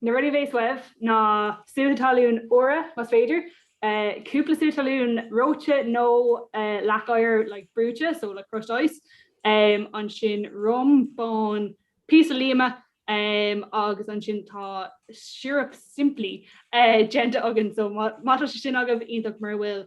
Na rudaí a bheas uaibh ná sútha talún úra, más féidir, cúpla sútha talún reoite nó leac oighir like brúite, so like crushed ice, ansin rum, bán, píosa líoma agus ansin tá siorup simplí déanta againn so má tá sé sin agaibh, iontach, mura bhfuil,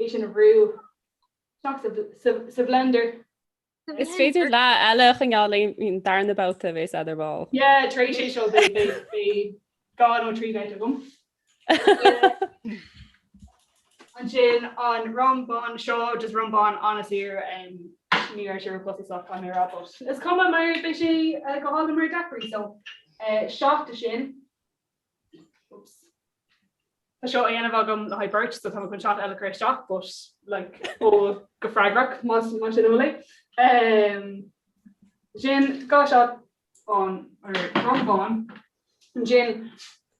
é sin a bhrú sa bhlender. Is féidir leath eile a choinneáil le haghaidh an darna babhta a bheas a'd ar ball. Yeah, tar éis é seo beidh dhá nó trí bheith agam. Ansin an rum bán seo, just rum bán an-saor, ní raibh sé ar an bposadh sách caithfidh mé a rá but is cuma mar beidh sé go hálainn mar daiquiri so seat de sin. Tá seo á dhéanamh agam le haghaidh beirt so tá mé chun seat eile a chur isteach but like ól go freagrach más más sin a bhfuil é. Sin dhá sheat den rum bán ansin.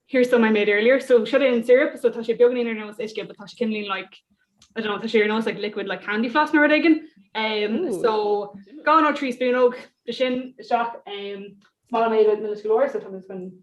Here's some I made earlier so seo é an syrup so tá sé beagáinín ar nós uisce but tá sé cineáilín like I don't know tá sé ar nós like liquid like candy floss nó rud éigin. Um Ooh. so dhá nó trí spúnóg de sin isteach. Um Is maith liom é a bheith milis go leor so tá mé just chun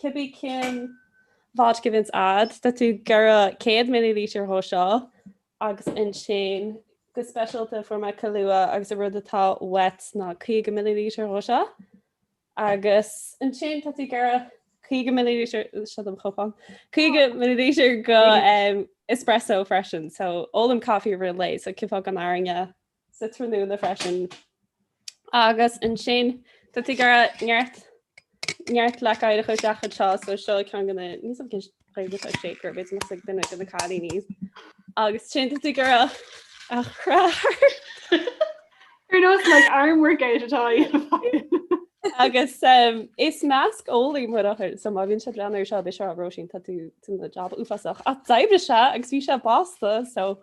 Cibé cén fháilte go bhfios a'd, tá tú ag iarraidh 100 millilítear dhó seo agus ansin go speisialta fuair mé Kahlua agus an rud atá uait ná 50 millilítear dhó seo agus ansin tá tú ag iarraidh 50 millilítear, seo dom chupán, 50 millilítear de espresso freisin so ólaim coffee i rith an lae so cén fáth gan airne sa tráthnóna freisin. Agus ansin, tá tú ag iarraidh neart neart leac oighir a chur isteach anseo, so seo ceann de na, níl a fhios agam cén Ghaeilge atá ar shaker, b'fhéidir go mbeadh a fhios ag duine de na cailíní. Agus ansin tá tú ag iarraidh é a chraitheadh. Ar nós like arm workout atá í. Agus is measceolaí mo dheartháir, so má bhíonn sé ag breathnú air seo, beidh sé ag rá Róisín, tá tú ag déanamh jab uafásach. Ach d'oibrigh sé agus bhí sé blasta, so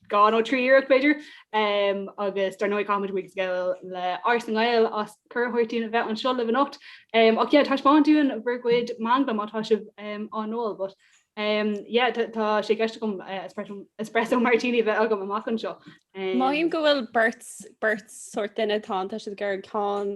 dhá nó trí iarracht b'fhéidir agus dar ndóigh caithfidh muid buíochas a ghabháil le Áras na nGael as cuireadh a thabhairt dúinn a bheith anseo libh anocht ach yeah taispeáin dúinn bhur gcuid manglam má tá sibh á n-ól but yeah tá sé i gceist agam espresso martini a bheith agam amach anseo. Mothaím go bhfuil beirt sórt duine atá ann, tá siad ag iarraidh an ceann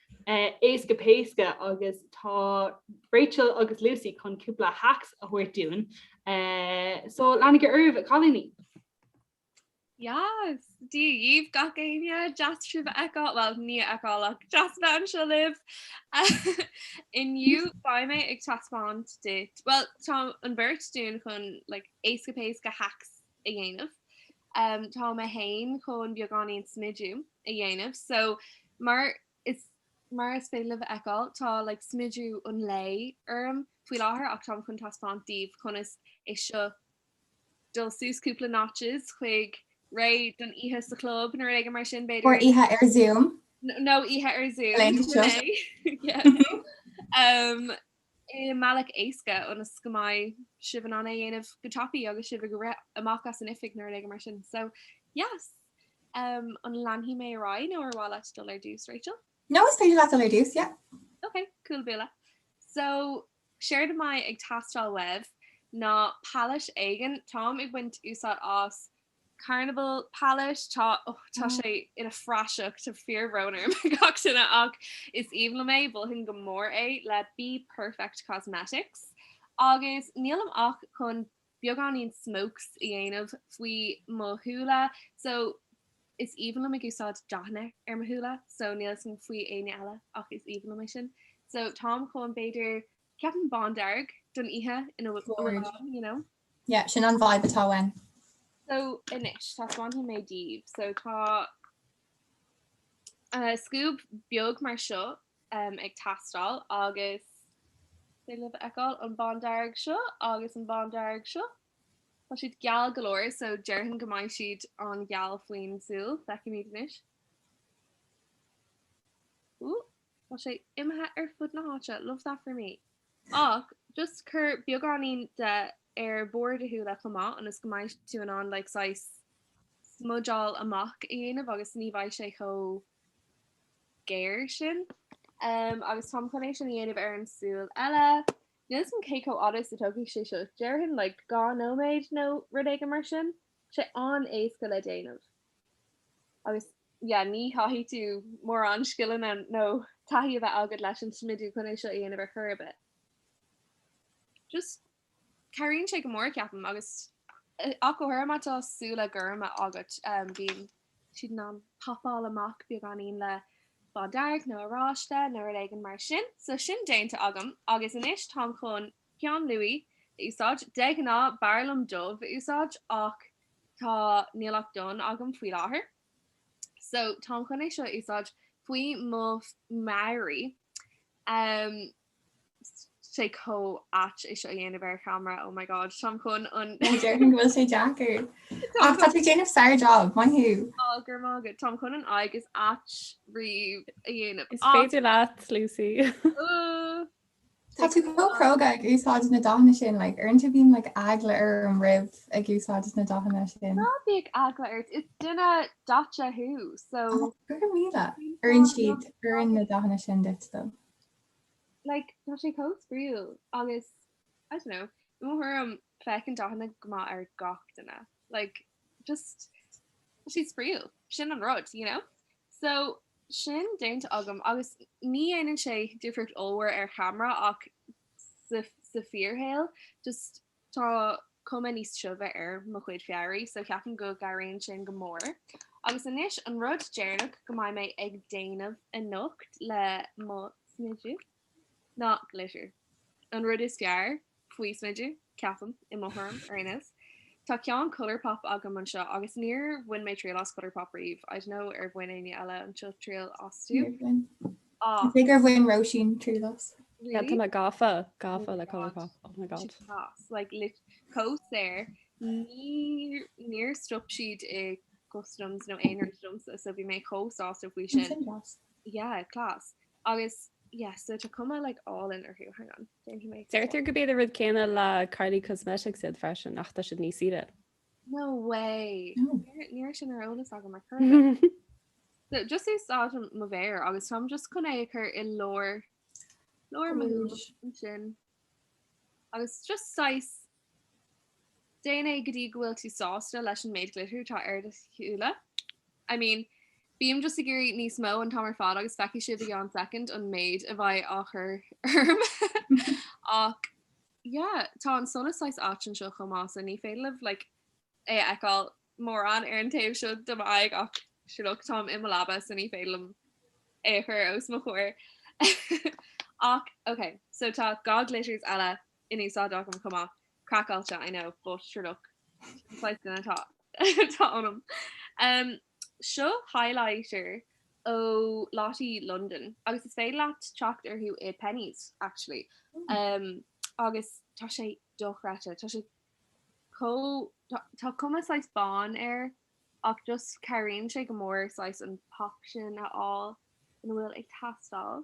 éasca péasca agus tá Rachel agus Lucy chun cúpla hacks a thabhairt dúinn so leanaigí oraibh a chailíní! Yas! Dia dhaoibh gach éinne, deas sibh a fheiceáil, bhuel ní a fheiceáil ach deas a bheith anseo libh! Inniu beidh mé ag taispeáint duit, bhuel tá an bheirt dúinn chun like éasca péasca hacks a dhéanamh. Tá mé féin chun beagáinín smidiú a dhéanamh so mar is féidir libh a fheiceáil tá like smidiú an lae orm faoi láthair ach táim chun taispeáint daoibh conas é seo dul suas cúpla notches chuig réidh don oíche sa chlub nó rud éigin mar sin b'fhéidir Or oíche ar Zoom nó oíche ar Zoom yeah. um, i mbealach éasca ionas go mbeidh sibh in ann é a dhéanamh go tapa agus sibh ag rith amach as an oifig nó rud éigin mar sin. So, yes! An leanfaidh mé ar aghaidh nó ar mhaith leat dul ar dtús, Rachel? No, is féidir leat dul ar dtús, yeah. Ok, cúla búla. So, séard a mbeidh ag teastáil uaibh ná palette éigin. Táim ag baint úsáid as Carnival Palette, tá, ó, tá sé ina phraiseach, tá fíorbhrón orm gach duine ach is aoibhinn liom é, mholfainn go mór é, le Be Perfect Cosmetics. Agus nílim ach chun beagáinín smokes a dhéanamh faoi mo shúile, so is aoibhinn liom ag úsáid dathanna ar mo shúile, so níl fhios agam faoi éinne eile ach is aoibhinn liom é sin. So táim chun b'fhéidir, ceapaim bándearg don oíche atá ann, you know. Yeah, sin an vibe atá uainn. So, anois, taispeánfaidh mé daoibh. So, tá scuab beag mar seo ag teastáil agus is féidir libh a fheiceáil an bándearg seo agus an bándearg seo. Tá siad geal go leor, so déarfainn go mbeidh siad an-gheal faoin súil. Feicfimid anois. Ooh! Tá sé imithe ar fud na háite, love that for me! Ach just cuir beagáinín de ar barr do shúile chomh maith ionas go mbeidh tú in ann like saghas smudgeáil amach a dhéanamh agus ní bheidh sé chomh géar sin. Em, agus táim chun é sin a dhéanamh ar an súil eile. Níl 's a'm cé chomh fada is a tógfaidh sé seo, déarfainn like dhá nóiméad nó rud éigin mar sin. Tá sé an-éasca le déanamh. Agus yeah, ní chaithfidh tú mórán scileanna nó taithí a bheith agat leis an smidiú chun é seo a dhéanamh ar chor ar bith. Just cabhraíonn sé go mór ceapaim agus ach go háirithe má tá súile gorma agat bíonn siad in ann papáil amach beagáinín le bándearg nó oráiste nó rud éigin mar sin. So sin déanta agam agus anois táim chun Peann luaí, a úsáid. De ghnáth, b'fhearr liom dubh a úsáid ach tá, níl ach donn agam faoi láthair. So, táim chun é seo a úsáid faoi mo mhalaí. Tá sé chomh ait é seo a dhéanamh ar cheamara, oh my god, táim chun an. Déarfainn go bhfuil sé deacair. Ach tá tú déanamh sár job, maith thú. Á, go raibh maith agat, táim chun an aghaidh is aite riamh a dhéanamh. Is féidir leat, Lucy. Tá tú chomh cróga ag úsáid na dathanna sin, like, uaireanta bíonn, like, eagla orm roimh ag úsáid na dathanna sin. Ná bíodh eagla ort, is duine daite thú, so. Ó, go raibh míle. Oireann siad, oireann na dathanna sin duit, though. Like, tá sé chomh spraíúil agus, I don't know, i mo thuairim, Feiceann dathanna go maith ar gach duine. Like just siad spraíúil. Sin an rud, you know? So sin déanta agam agus ní dhéanann sé difríocht ollmhór ar cheamara ach sa fíorshaol just tá cuma níos tiubha ar mo chuid fabhraí so cheapaim go gcabhraíonn sin go mór. Agus anois an rud deireanach go mbeidh mé ag déanamh anocht le mo smideadh. ná glitter. An rud is fearr faoi smideadh, ceapaim, i mo thuairim, ar aon nós. Tá ceann Colourpop agam anseo agus níor bhain mé triail as Colourpop riamh, I don't know ar bhain éinne eile anseo triail astu? Níor bhain. Tá a fhios agam gur bhain Róisín triail as. Really? Tá mé gafa, gafa le Colourpop, oh my god. Siad deas, like lit, chomh saor, níor, níor stop siad i customs nó aon rud domsa so bhí mé chomh sásta faoi sin. Sin deas. Yeah, class. Agus yeah so tá cuma like álainn orthu. Hang on, déanfaidh mé scroll. Deirtear gurb iad an rud céanna le Kylie Cosmetics iad freisin ach tá siad níos saoire. No way! Ní raibh sin ar eolas agam mar chorraitheach. So just úsáidim mo mhéar agus táim just chun é a chur i lár lár mo shúil ansin. Agus just saghas déan é go dtí go bhfuil tú sásta leis an méid glitter atá ar do shúile. I mean, bím just ag iarraidh níos mó an t-am ar fad agus feicfidh sibh i gceann soicind an méid a bheidh á chur orm. Ach yeah, tá an solas saghas áit anseo chomh maith so ní féidir libh like é a fheiceáil mórán ar an taobh seo de m'aghaidh ach sure look, táim i mo leaba so ní féidir liom é a chur os mo chomhair! Ach ok, so tá dhá glitters eile in úsáid agam chomh maith, craiceáilte I know, but sure look, sin saghas duine atá ionam! Seo highlighter ó Lottie London agus is féidir leat teacht orthu i Penneys actually agus tá sé dochreidte, tá sé chomh, tá cuma saghas bán air ach just cabhraíonn sé go mór saghas an pop sin a fháil ina bhfuil ag teastáil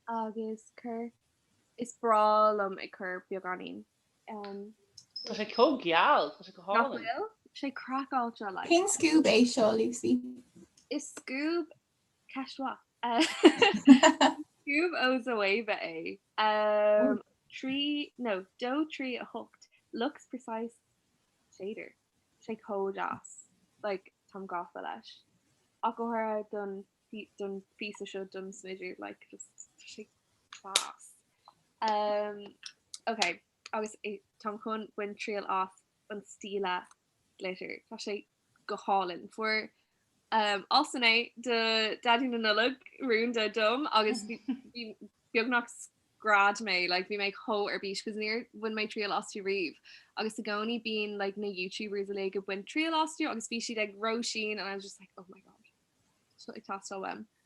agus cur, is breá liom ag cur beagáinín ann. Tá sé chomh geal, tá sé go hálainn. Nach bhfuil? Sé craiceáilte like. Cén scuab é seo, Lucy? Is scuab Ceist mhaith. Scuab ó Zoeva é. Trí nó dó trí a hocht Luxe Precise shader. Tá sé chomh deas. Like táim gafa leis. Ach go háirithe don don phíosa seo don smideadh seo like just tá sé class. Ok. Agus táim chun baint triail as an Stila glitter. Tá sé go hálainn. Fuair Austin é do Dhaidí na Nollag rúnda dom agus beagnach scread mé, like bhí mé chomh ar bís 'cause níor bhain mé triail astu riamh. Agus i gcónaí bíonn like na Youtubers uilig ag baint triail astu agus bhí siad ag Róisín and I was just like, oh my god. Tá seo ag teastáil uaim.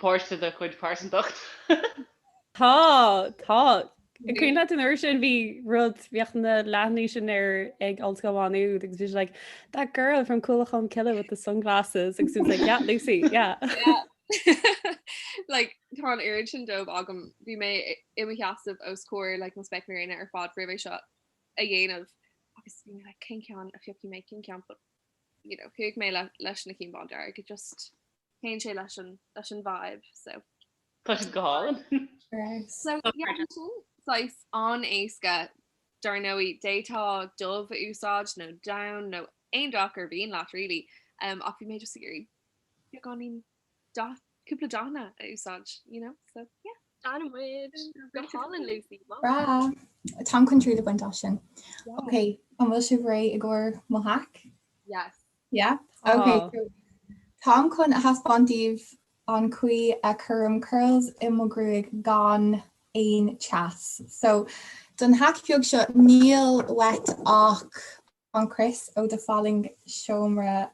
páirt de do chuid pearsantacht. Tá, tá. Cuimhin leat an uair sin bhí rud, bhíodh na leathanaigh sin ar ag Ollscoil Mhá Nuad agus bhí sé like, that girl from Cúlachán Cille with the sunglasses agus bhí sé like, yeah, Lucy, yeah. like, tá an oiread sin díobh agam, bhí mé i mo sheasamh os comhair like, na spéaclaí gréine ar fad roimh é seo a dhéanamh agus bhí mé like, cén ceann a phiocfaidh mé, cén ceann but, you know, chuaigh mé leis na cinn bándearg, it just. théann sé leis an leis an vibe so. Tá siad go hálainn. So yeah bhí sé saghas an-éasca dar ndóigh d'fhéadfá dubh a úsáid nó donn nó aon dath ar mhian leat really ach bhí mé just ag iarraidh beagáinín dath cúpla dathanna a úsáid you know so yeah. Sin muid. Go hálainn Lucy. Maith. Bhreá! Táim chun triail a bhaint as sin. Ok, an bhfuil sibh réidh i gcomhair mo hack? Yes. Yep, OK, so táim chun a thaispeáint daoibh an chaoi a chuirim curls i mo ghruaig gan aon teas. So don hack bheag seo, níl uait ach an crios ó do fallaing seomra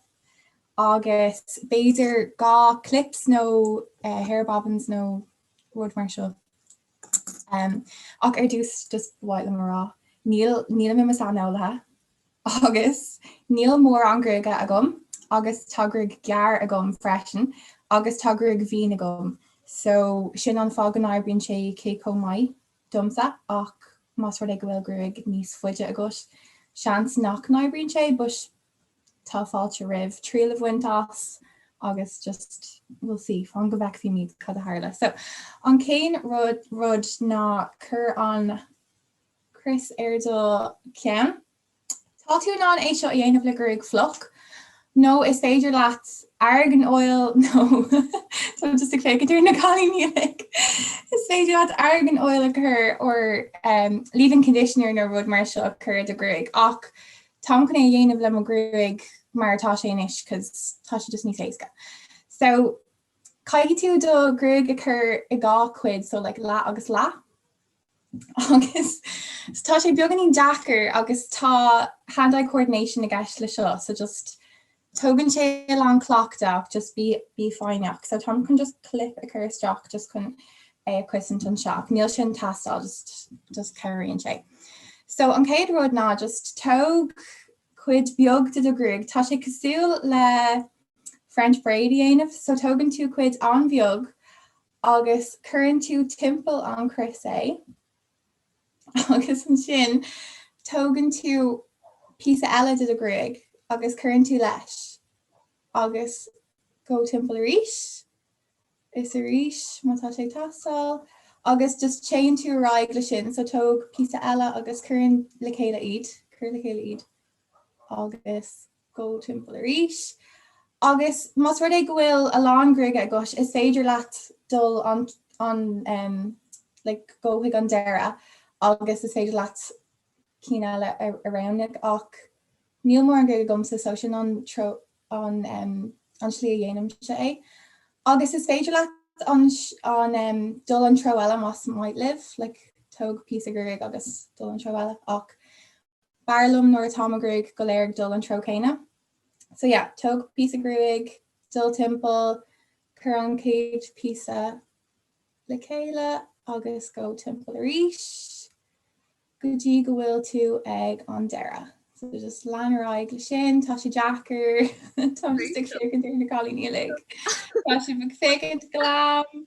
agus b'fhéidir dhá clips nó hair bobbins nó rud mar seo. Ach ar dtús, just ba mhaith liom a rá, níl mé i mo shaineolaí. Agus níl mórán gruaige agam, agus tá gruaig ghearr agam freisin, agus tá gruaig mhín agam, so sin an fáth go n-oibríonn sé cé chomh maith domsa, ach más rud é go bhfuil gruaig níos faide agat, seans nach n-oibríonn sé, but tá fáilte romhaibh triail a bhaint as agus just, we'll see, fan go bhfeicfimid cad a tharla. So an chéad rud ná cuir an. chrios ar do cheann. Tá tú in ann é seo a dhéanamh le gruaig fliuch, nó is féidir leat argan oil nó tá mé just ag féachaint ar na cailíní uilig, is féidir leat argan oil a chur or um leave in conditioner nó rud mar seo a chur ar do ghruaig ach táim chun é a dhéanamh le mo ghruaig mar atá sé anois cos tá sé just níos éasca. So caithfidh tú do ghruaig a chur i dhá chuid so like leath agus leath. agus tá sé beagáinín deacair agus tá hand-eye coordination i gceist le seo so just tógann sé a lán cleachtadh just bí bí foighneach so táim chun just clip a chur isteach just chun é a chosaint anseo ach níl sin ag teastáil just just cabhraíonn sé. So an chéad rud ná just tóg cuid beag de do ghruaig tá sé cosúil le French braid a dhéanamh so tógann tú cuid an-bheag agus cuireann tú timpeall an chrios é agus ansin tógann tú píosa eile de do ghruaig agus cuireann tú leis agus go timpeall arís is arís má tá sé ag teastáil agus just téann tú ar aghaidh le sin so tóg píosa eile agus cuireann le chéile iad cuir le chéile iad agus go timpeall arís. Agus más rud é go bhfuil a lán gruaige agat, is féidir leat dul an, an, um, like, go chuig an deireadh agus is féidir leat cinn eile a, a roghnú, ach níl mórán gruaige agamsa so sin an treo, an, um, an slí a dhéanaimse é. Agus is féidir leat an, an, um, dul an treo eile más maith libh, like, tóg píosa gruaig agus dul an treo eile, ach B'fhearr liom nuair atá mo ghruaig go léir ag dul an treo céanna. So yeah, tóg píosa gruaig, dul timpeall, cuir an chéad píosa le chéile agus go timpeall arís go dtí go bhfuil tú ag an deireadh. So just lean ar aghaidh le sin, tá sé deacair, táim just ag féachaint ar na cailíní uilig, tá siad ag féachaint glam!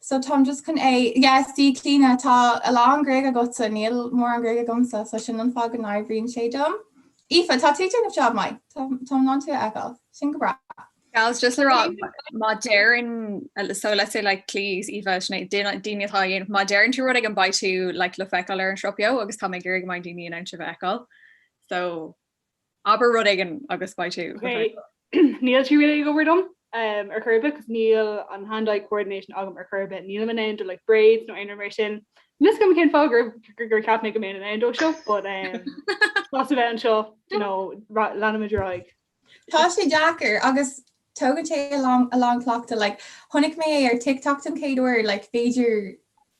So táim just chun é. Yes, a Chlíona, tá a lán gruaig agatsa, níl mórán gruaig agamsa, so sin an fáth go n-oibríonn sé dom. Aoife, tá tú ag déanamh job maith, táim in ann tú a fheiceáil, sin go breá. Gals, just le rá, má deireann, so let's say like Clíona, Aoife, sin é, daoine atá á dhéanamh, má deireann tú rud éigin beidh tú like le feiceáil ar an Sruth Beo agus tá mé ag iarraidh go mbeidh daoine in ann sibh a fheiceáil. So. Abair rud éigin agus beidh tú. Ok, níl sé really ag obair dom ar chor ar bith cos níl an hand-eye coordination agam ar chor ar bith. Nílim in ann do like braids nó aon rud mar sin. Níl a fhios agam cén fáth gur gur cheap mé go mbeinn in ann dó seo but um, sásta a bheith anseo leanfaimid ar aghaidh. Tá sé deacair agus tógann sé a lán a lán cleachtadh like chonaic mé é ar TikTok don chéad uair like b'fhéidir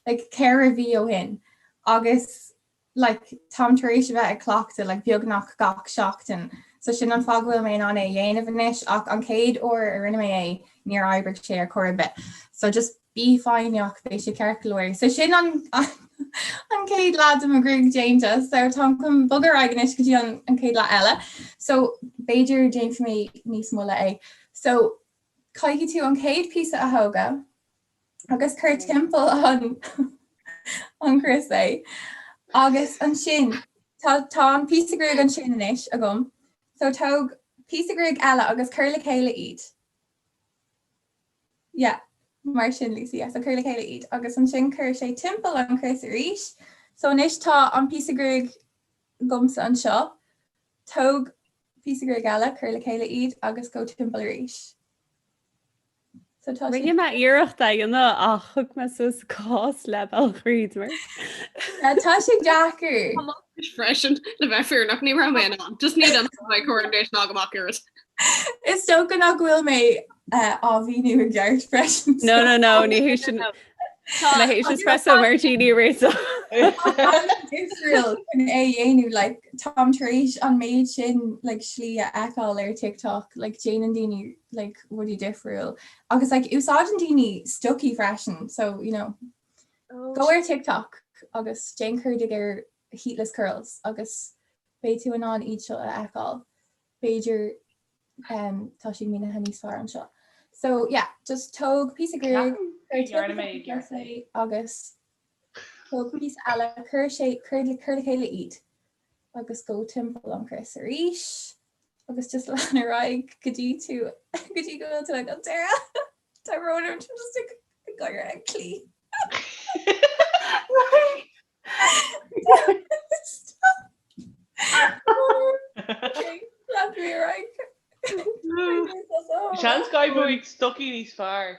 like ceithre mhí ó shin agus like, táim tar éis a bheith ag cleachtadh, like, beagnach gach seachtain, so sin an fáth go bhfuil mé in ann é a dhéanamh anois, ach an chéad uair a rinne mé é, níor oibrigh sé ar chor ar bith, so just bí foighneach, beidh sé ceart go leor. So sin an an chéad leath de mo ghruaig déanta, so táim chun bogadh ar aghaidh anois go dtí an an chéad leath eile, so b'fhéidir déanfaidh mé níos moille é. So caithfidh tú an chéad píosa a thógáil, agus cuir timpeall an chrios é. Agus ansin, tá an píosa gruaige ansin anois agam, so tóg píosa gruaige eile agus cuir le chéile iad. Yeah, mar sin Lucy, so cuir le chéile iad. Agus ansin cuir sé timpeall an chrios arís. So anois tá an píosa gruaige agamsa anseo, tóg píosa gruaige eile, cuir le chéile iad agus go timpeall arís. Rinne mé iarracht é a dhéanamh ach thug mé suas saghas leath bealach tríd mar tá sé deacair. Tá mé anois freisin, le bheith fírinneach, ní raibh mé in ann, just níl an coordination agam. Ach is dócha nach bhfuil mé á mhíniú i gceart freisin. No, no, no, ní hé sin. Tá hé sin espresso martini aréir. So is féidir linn é a dhéanamh like táim tar éis an méid sin like slí a fheiceáil ar TikTok like déanann daoine like rudaí difriúil agus like úsáideann daoine stocaí freisin so you know oh, go ar TikTok agus déan cuardaigh ar heatless curls agus beidh tú in ann iad seo a fheiceáil b'fhéidir um, tá siad mínithe níos fearr anseo so yeah just tóg píosa gruaige agus tóg píosa eile cuir sé cuir le chéile iad agus go timpeall an chrios arís agus just lean ar aghaidh go dtí tú go dtí go bhfuil tú ag an deireadh tá brón orm táim just ag ag gáire ag Clí seans go bhfaighidh stocaí níos fearr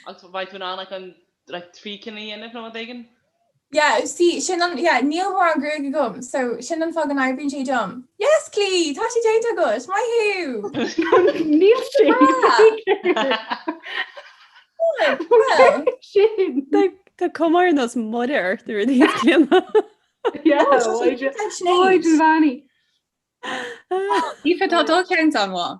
agus beidh tú in ann an trí cinn a dhéanamh nó rud éigin Yeah, see, sin an, yeah, níl mórán gruaig agam, so sin an fáth go n-oibríonn sé dom. Yes, Clí, tá sé déanta agat, maith thú! Níl sé déanta! Well. Tá cuma ar nós Mother Teresa ar Clíona. Yeah, óige, óige Bheannaí. Aoife, tá dul ceann ann, mhaith.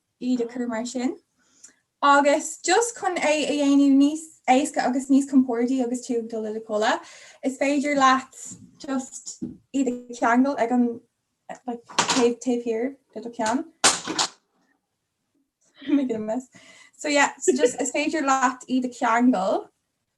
iad a chur mar sin. Agus just chun é a dhéanamh níos éasca agus níos compórdaí agus tú ag dul i do chodladh, is féidir leat just iad a cheangal ag an taobh taobh thiar de do cheann. So yeah, so just is féidir leat iad a cheangal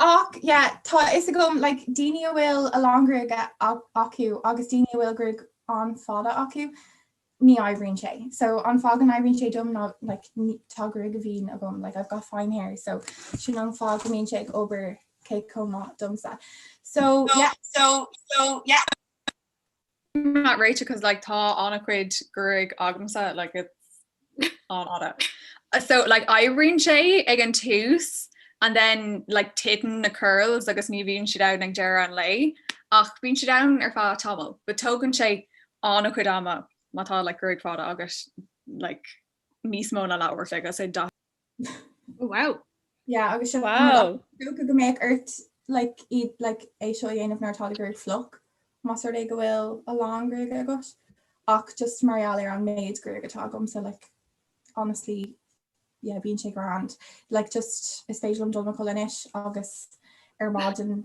Ach yeah tá a fhios agam daoine a bhfuil a lán gruaige acu agus daoine a bhfuil gruaig an-fhada acu ní oibríonn sé. So an fáth go n-oibríonn sé dom ná like tá gruaig mhín agam, like I've got fine hair, so sin an fáth go mbíonn sé ag obair cé chomh maith domsa. So yeah. I'm not réite cos like tá ana cuid gruaige agamsa like it's an-fhada so like oibríonn sé ag an tús and then like titeann na curls agus ní bhíonn siad ann ag deireadh an lae ach bíonn siad ann ar feadh tamaill but tógann sé ana cuid ama má tá like gruaig fada agat like níos mó ná leathuair an chloig so yeah Wow. Yeah, agus is wow. dócha go mbeadh ort like, iad like, é seo a dhéanamh nuair atá do ghruaig fliuch más rud é go bhfuil a lán gruaige agat ach just mar gheall ar an méid gruaige atá agam so like, honestly yeah, bíonn sé grand. Like just is féidir liom dul mo chodladh anois agus ar maidin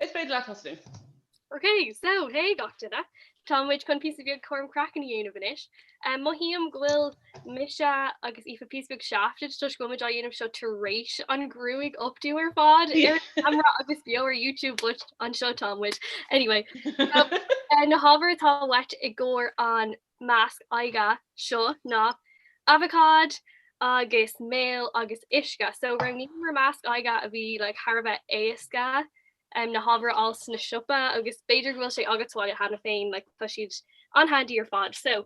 Is féidir leatsa tosú. Ok, so hé gach duine, tá muid chun píosa beag cúram craicinn a dhéanamh anois. Mothaím go bhfuil mise agus Aoife píosa beag shafted toisc go bhfuil muid á dhéanamh seo tar éis an ghruaig updo ar fad ar an camera agus beo ar YouTube but anseo tá muid. Anyway, na hábhair atá uait i gcomhair an masc aghaidhe seo ná abhacád agus mil agus uisce. So roghnaíomar masc aghaidhe a bhí like thar a bheith éasca um na hábhair a fháil sna siopa agus b'fhéidir go bhfuil sé agat sa bhaile cheana féin like tá siad an-handy ar fad. So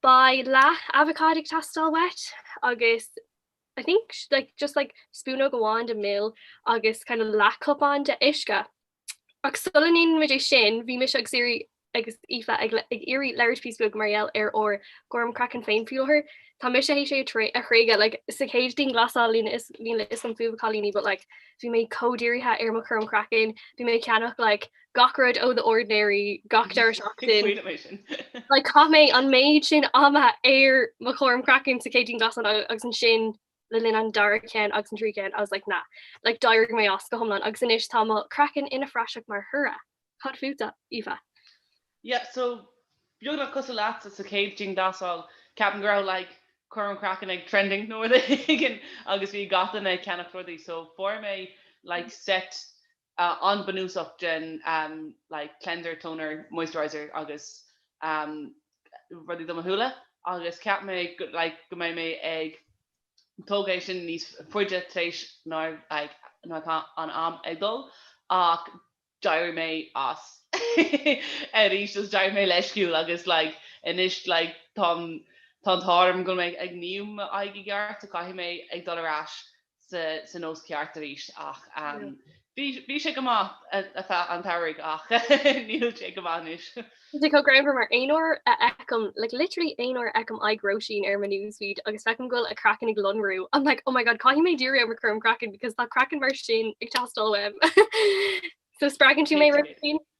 beidh leath abhacád ag teastáil uait agus I think like just like spúnóg amháin de mil agus kind of leathchupán de uisce. Ach sula ndéanann muid é sin, bhí mise agus Aoirí agus Aoife ag iarraidh labhairt píosa beag mar gheall ar ár gcúram craicinn féin faoi láthair. Tá mise théis é a thréigeadh, like, sa chéad dianghlasáil níl a fhios agam fúibh a chailíní but, like, bhí mé chomh dírithe ar mo chúram craicinn, bhí mé ag ceannach, like, gach rud ó The Ordinary gach deireadh seachtain. Like, chaith mé an méid sin ama ar mo chúram craicinn sa chéad dianghlasáil agus ansin le linn an dara ceann agus an tríú ceann, I was like nah. Like d'éirigh mé as go hiomlán agus anois tá mo chraiceann ina phraiseach mar thoradh. Cad fútsa, Aoife? Yeah, so beagnach cosúil leatsa sa chéad dianghlasáil, ceapaim go raibh like cúram craicinn ag trending nó rud éigin agus bhí gach duine ag ceannach rudaí so fuair mé like set an-bhunúsach den like cleanser, toner, moisturiser agus rudaí do mo shúile agus cheap mé like go mbeidh mé ag tógáil é sin níos faide tar éis nár like nuair an am ag dul ach d'éirigh mé as arís agus d'éirigh mé leisciúil agus like anois like táim tá an t-ádh orm go mbeidh mé ag ní m'aghaidh i gceart so caithfidh mé ag dul ar ais sa nós ceart arís ach bhí sé go maith an tsamhraidh ach níl sé go maith anois. Sé chomh greannmhar mar aon uair a fheicim, like literally aon uair a fheicim aghaidh Róisín ar mo newsfeed agus feicim go bhfuil a craiceann ag lonrú, I'm like oh my god caithfidh mé díriú ar chúram craiceann because tá craiceann mar sin ag teastáil uaim. So spreagann tú mé Róisín.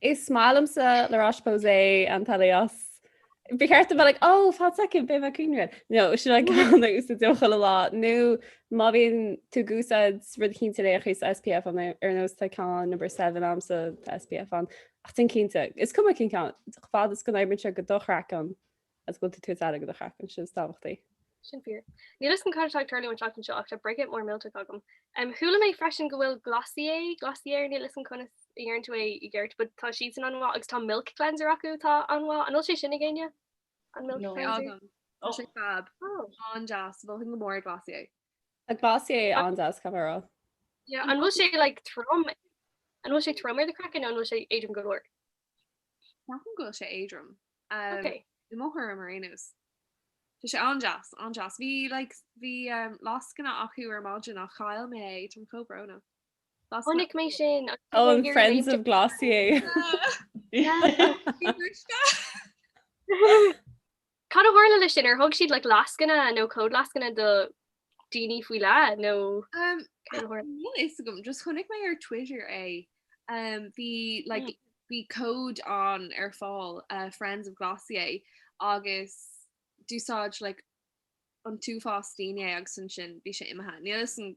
Is maith liomsa La Roche Posay Anthelios. Ba cheart dom bheith like, ó, fan second, beidh mé ag cuimhneamh air. No, sin an ceann a úsáidim chuile lá. Nó má bhíonn tú ag úsáid rud cinnte leis an SPF ann, ar nós tá ceann Number Seven a'msa, tá SPF ann. Ach déan cinnte. Is cuma cén ceann, fad is go n-oibríonn sé do do chraiceann. Is go bhfuil tú ag tabhairt aire do do chraiceann sin is tábhachtaí. Sin fíor. Níl fhios agam cad atá ag tarlú an tseachtain seo ach tá breakout mór millteach agam. Chuala mé freisin go bhfuil Glossier, Glossier, níl fhios agam conas a deireann tú é i gceart, but tá siadsan an-mhaith agus tá Milk Cleanser acu atá an-mhaith. An bhfuil sé sin ag éinne? An Milk Cleanser? No. Tá agam. Tá sé fab. Oh. An-deas. Mholfainn go mór Glossier. Tá Glossier an-deas, caithfidh mé a rá. Yeah, an bhfuil sé like trom? An bhfuil sé trom ar do craiceann nó an bhfuil sé éadrom go leor? Ceapaim go bhfuil sé éadrom. Ok. I mo thuairim ar aon nós. Tá sé an-deas, an-deas. Bhí like bhí um lascaine acu ar maidin ach chaill mé é, tá mé chomh brónach. Lascaine- Chonaic mé sin ach Oh, an Friends of Glossier. Bhí mé briste. Cad a tharla leis sin? Ar thug siad like lascaine nó códlascaine do dhaoine faoi leith nó Um, cad a tharla? Níl fhios agam, just chonaic mé ar Twitter é. Um, bhí, like, bhí cód ann ar fáil, uh, Friends of Glossier, agus d'úsáid, like, an t-uafás daoine é agus ansin bhí sé imithe. Níl fhios agam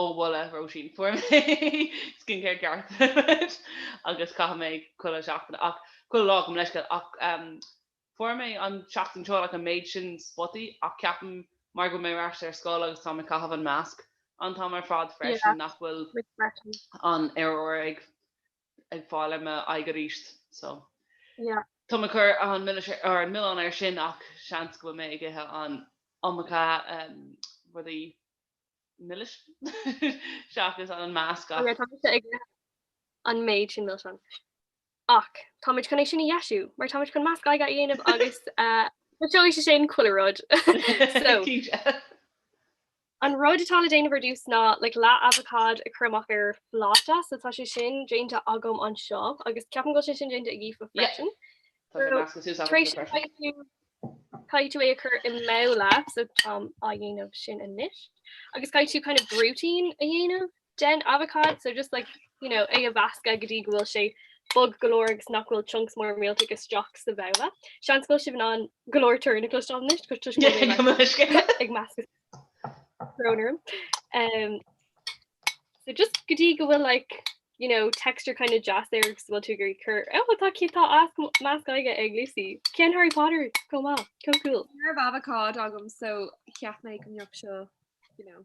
Ó mholadh Róisín fuair mé skincare ceart agus chaith mé chuile seachtain ach chuile lá gabh mo leithscéal ach fuair mé an seachtain seo an méid sin spotaí ach ceapaim mar go bhfuil mé ar ais ar scoil agus táim ag caitheamh an masc an t-am ar fad freisin nach bhfuil an aer úr ag ag fáil ar m'aghaidh arís so tá mé ag cur an milleán air sin ach seans go bhfuil mé ag ithe an iomarca rudaí milis seachas an masc ach. Tá mise ag ithe an méid sin milseán ach táimid chun é sin a dheisiú mar táimid chun masc aghaidh a dhéanamh agus socróidh sé sin chuile rud so. An rud atá le déanamh ar dtús ná like leath avocád a chur amach ar phláta so tá sé sin déanta agam anseo agus ceapaim go bhfuil sé sin déanta ag Aoife freisin. Tar éis sin caithfidh tú caithfidh tú é a chur i mbabhla so táim á dhéanamh sin anois agus caithfidh tú kind of brúitín a dhéanamh den avocád, so just like, you know, é a mheascadh go dtí go bhfuil sé bog go leor agus nach bhfuil chunks mór millteach isteach sa bhabhla. Seans go bhfuil sibh in ann go leor torann a chloisteáil anois agus toisc go bhfuil mé like ag meascadh brón orm. Um, so just go dtí go bhfuil like, you know, texture kind of deas air agus bhfuil tú ag iarraidh cur ó tá cí tá masc aghaidhe ag Lucy. Ceann Harry Potter chomh, chomh cool. Ar avocád agam so cheap mé go mbeadh seo, you know,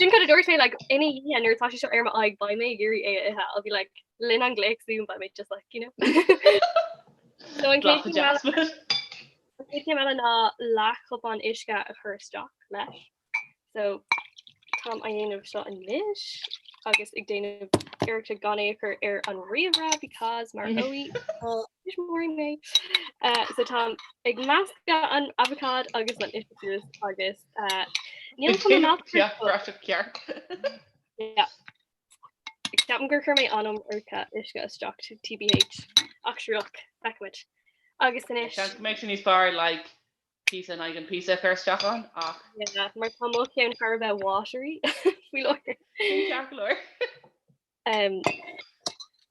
Sin cad a dúirt mé like ina dhiaidh nuair atá sé seo ar m'aghaidh beidh mé ag iarraidh é a ithe I'll be like le linn an ghlaoch zoom beidh mé just like you know so an chéad chéim eile ná leathchupán uisce a chur isteach leis so táim á dhéanamh seo anois agus ag déanamh iarracht gan é a chur ar an ríomhaire because maróidh móí mé so táim ag meascadh an avocád agus an uisce agus Níl chun an eachtra Ceap go raibh sibh ceart. Yeah. Ceapaim gur chuir mé an iomarca uisce isteach t- TBH ach sure look feicimid. Agus anois Seans go mbeidh sé níos fearr like píosa in aghaidh an píosa a chur isteach ann ach yeah, mar tá mo cheann thar a bheith watery faoi láithir. Ní ceart go leor.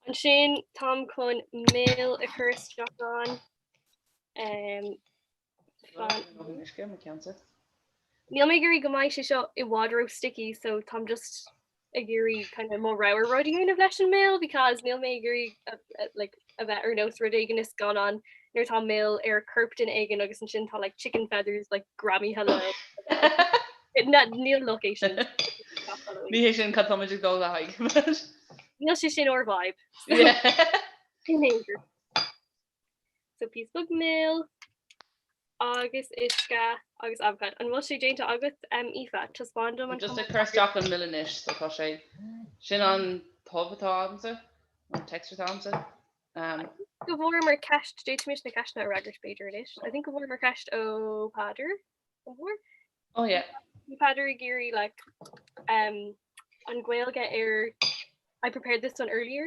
Ansin táim chun mil a chur isteach ann. Níl mé ag iarraidh go mbeidh sé seo i bhfad ró sticky so táim just ag iarraidh kind of mo rogha rud a dhéanamh leis an mil because níl mé ag iarraidh like a bheith ar nós rud éigin i scannán nuair atá mil ar corp duine éigin agus ansin tá like chicken feathers like greamaithe leo na níl location ní hé sin cad táim ag dul le haghaidh níl sé sin ár vibe so píosa beag mil agus uisce agus abhacád. An bhfuil sé déanta agat, Aoife? Taispeáin dom. Just ag cur isteach an mil anois so tá sé sin an chuma atá agamsa, an texture. Go bhfuaireamar ceist, d'fhéadfaimis na ceisteanna a fhreagairt b'fhéidir anois. I think go bhfuaireamar ceist ó Peadar, an bhfuair? Oh yeah. Bhí Peadar ag iarraidh like, um, an Ghaeilge ar I prepared this one earlier.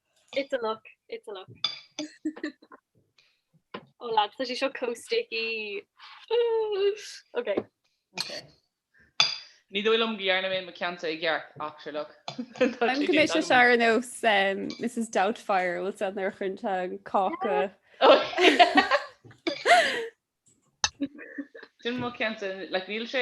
It's a look, it's a look. Oh lads, tá sé seo chomh sticky. Ok. Ok. Ní dóigh liom go dhearna mé mo cheannsa i gceart ach sure look. Tá sé Beidh sé seo ar nós Mrs Doubtfire bhfuil a fhios agat nuair a chuireann sí an cáca. Sin mo cheannsa, like níl sé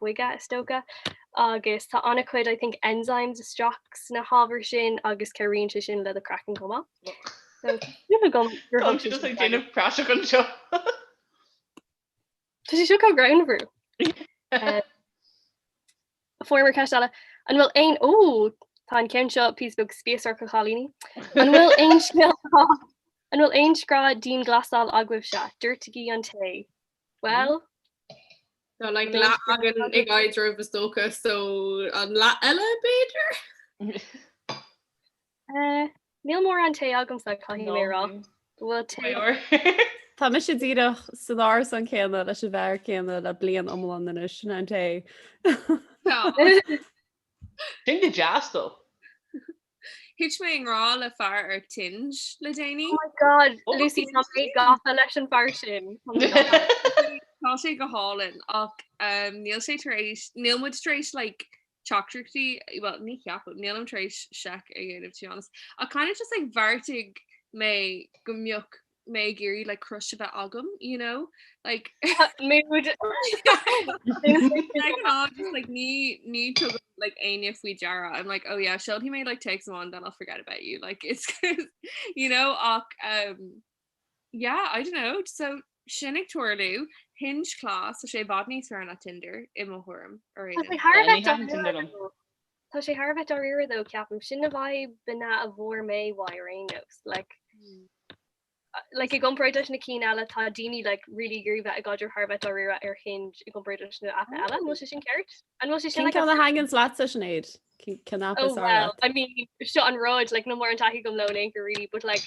boige is dócha, agus tá an-chuid I think enzymes istigh sna hábhair sin agus cabhraíonn sé sin le do craiceann chomh maith. So táim ag déanamh praiseach anseo. Tá sé seo chomh greannmhar. Eh, Former ceist eile, an bhfuil aon, ó, tá an ceann seo píosa beag spíosrach a chailíní. An bhfuil aon grá dianghlasáil agaibhse, doirtigí an tae? Bhuel, like leath againn ag éadrom is dócha so an leath eile b'fhéidir? eh, níl mórán tae agamsa, caithfidh mé a rá go bhfuil tae. Tá mise díreach san árasán céanna leis an bhfear céanna le bliain iomlán anois, sin é an tae. Tá. Sin go deas dó. Thuit mé i ngrá le fear ar Hinge le déanaí. Oh my god, Lucy, tá mé gafa leis an fear sin. Tá sé go hálainn ach níl sé tar éis, níl muid tar éis like teachtaireachtaí, bhuel ní cheapaim, nílim tar éis seic a dhéanamh to be honest. Ach kind of just like bheartaigh mé go mbeadh mé ag iarraidh like crush a bheith agam you know like mood like ní ní tugam like aine faoi deara I'm like oh yeah she'll he made like take someone then I'll forget about you like it's you know ach um yeah I don't know so sin ag tuarlú hinge class so sé bhad níos fearr na Tinder i mo thuairim ar Tá sé thar a bheith dáiríre though ceapaim. Sin na vibeanna a bhfuair mé uaidh ar aon nós. Like i gcomparáid leis na cinn eile tá daoine like really ag iarraidh bheith i gcaidreamh thar a bheith dáiríre ar Hinge i gcomparáid leis na haipeanna eile. An bhfuil sé sin ceart? An bhfuil sé sin like cén ceann a thaitníonn leatsa Sinéad? Cén cén app is fearr leat? I mean seo an rud like níl mórán taithí agam leo in aon chor really but like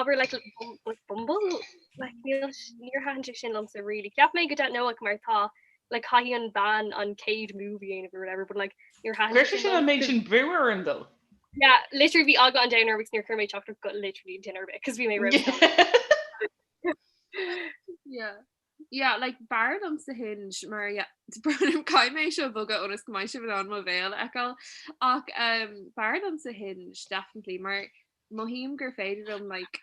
abair like bum- like Bumble? Like níl s- níor thaitin sé sin liomsa really. Cheap mé go raibh, you know like mar tá like caithfidh an bean an céad move a dhéanamh or whatever but like níor thaitin an méid sin brú orm though. Yeah, literally bhí eagla an domhain orm, níor chuir mé teachtaireacht go literally duine ar bith cos bhí mé Yeah, yeah, like b'fhearr liomsa Hinge mar yeah, caithfidh mé seo a bhogadh ionas go mbeidh sibh in ann mo bhéal a fheiceáil ach b'fhearr liomsa Hinge definitely mar mothaím gur féidir liom like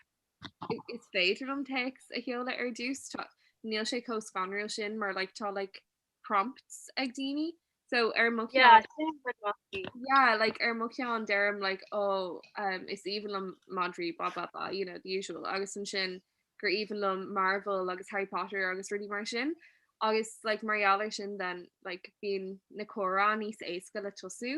is féidir liom téacs a sheoladh ar dtús tá, níl sé chomh scanrúil sin mar like tá like prompts ag daoine so ar mo cheann yeah, sin rud maith. yeah like ar mo cheann deirim like ó oh, um, is aoibhinn liom madraí blah blah blah you know the usual agus ansin gur aoibhinn liom Marvel agus Harry Potter agus rudaí mar sin agus like mar gheall ar sin then like bíonn na comhráite níos éasca le tosú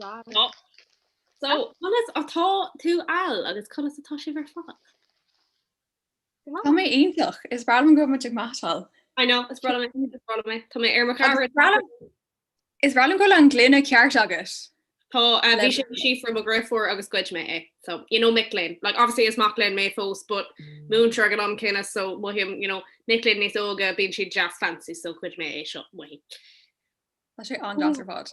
So conas atá tú Al agus conas atá sibh ar fad? Tá mé iontach, is breá liom go bhfuil muid ag meaitseáil. I know, is breá liom, is breá liom, tá mé ar. Is breá liom go bhfuil an gloine ceart agat. Tá, uh, bhí sé seo from mo dheirfiúr agus ghoid mé é. So, you know mic léinn. Like, obviously is mac léinn mé fós, but múinteoir ag an am céanna, so mothaím, you know, mic léinn níos óga, bíonn siad just fancy, so ghoid mé é seo, mothaím. Tá sé an-deas ar fad.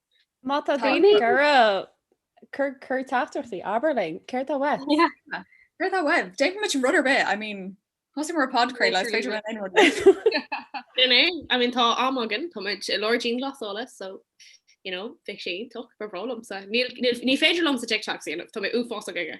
Má tá daoine ag iarraidh cur teachtaireachtaí, abair linn, céard tá uaibh? Céard tá uaibh? Déanfaidh muid rud ar bith, I mean, thosaigh muid podchraoladh, is féidir linn aon rud a dhéanamh. Sin é, I mean, tá am againn, tá muid i lár dianghlasála, so, you know, bheadh sé iontach, ba bhreá liomsa. Níl, ní féidir liomsa TikToks a dhéanamh, tá mé uafásach aige.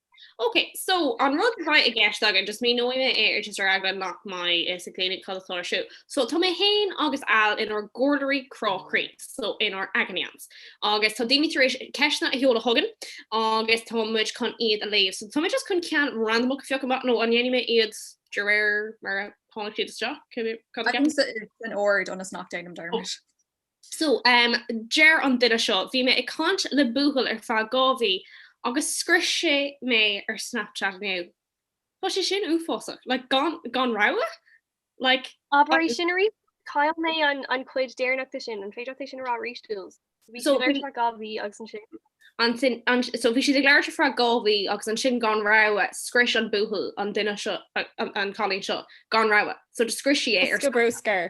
Ok, so an rud atá i gceist againn, just míneoidh mé é ar just ar eagla nach mbeidh fhios ag daoine cad atá ar siúl. So tá mé féin agus Al inár gcomhairleoirí crá croí, so inár agony aunts, agus tá daoine tar éis ceisteanna a sheoladh chugainn agus tá muid chun iad a léamh. So tá mé just chun ceann randamach a phiocadh amach, nó an ndéanfaidh mé iad de réir mar a tháinig siad isteach, cad a ceapann tú? Tagtha in ord ionas nach deinim dearmad. So, deir an duine seo, Bhí mé ag caint le buachaill ar feadh dhá mhí agus scrios sé mé ar Snapchat inniu. Tá sé sin uafásach. Like, gan, gan rabhadh? Like. Abair é sin arís? Chaill mé an, an chuid deireanach de sin. An féidir leat é sin a rá arís, Jules? Bhí so, siad ar feadh dhá mhí agus ansin? Ansin, an, so bhí siad ag labhairt ar feadh dhá mhí agus ansin gan rabhadh scrios an buachaill an duine seo, an, an cailín seo, gan rabhadh. So, scrios sí é ar. Bosca bruscair.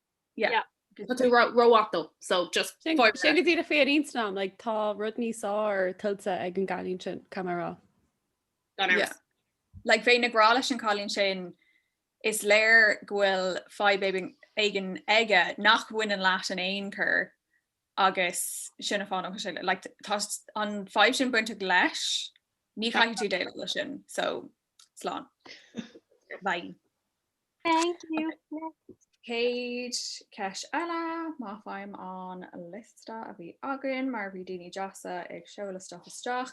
Yeah. Tá tú rómhaith dó, so just Sin fáir sin go dtí é féin ínsanán like tá rud níos fearr tuillte ag an gcailín sin caithfidh mé a rá. gan Yeah. amhras. Like bheinn ag rá leis an cailín sin is léir go bhfuil fadhb éigin éigin aige nach mbaineann leat in aon chor agus sin an fáth nach sé le like t- tá s- an fadhb sin bainteach leis ní chaithfidh tú déileáil leis sin so slán. Bye. Thank you. Céad ceist eile, má faighim an liosta a bhí againn mar bhí daoine deasa ag seoladh isteach isteach.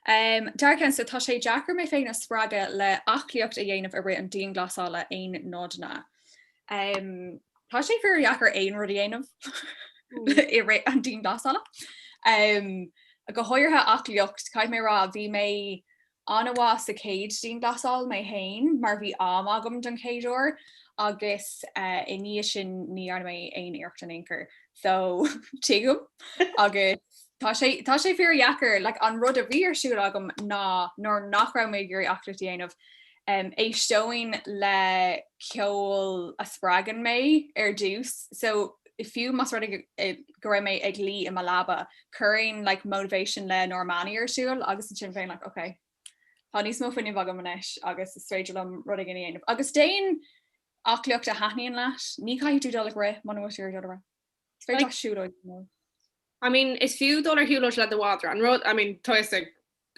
Um, deir ceann seo tá sé deacair mé féin a spreagadh le aclaíocht a dhéanamh i rith an dianghlasála aon nodanna. Um, tá sé fíor dheacair aon rud a dhéanamh mm. i rith an dianghlasála. Um, go háirithe aclaíocht caithfidh mé a rá bhí mé An-mhaith sa chéad dianghlasáil mé féin mar bhí am agam don chéad uair agus i ndiaidh sin ní dhearna mé aon iarracht in aon chor so tuigim agus tá sé tá sé fíor dheacair like an rud a bhí ar siúl agam ná nuair nach raibh mé ag iarraidh aclaíocht a dhéanamh em éisteoinn le ceol a spreagann mé ar dtús so fiú más rud é go raibh mé ag luí i mo leaba chuirfinn like Motivation le Normani ar siúl agus ansin bheinn like ok tá níos mó fuinneamh agam anois agus is féidir liom rud éigin a dhéanamh agus déan aclaíocht a thaitníonn leat, ní caithfidh tú dul ag rith muna bhfuil tú ag dul ag rith. Is féidir leat siúlóid a dhéanamh. I mean, is fiú dul ar shiúlóid le do mhadra. An rud, I mean, tá a fhios ag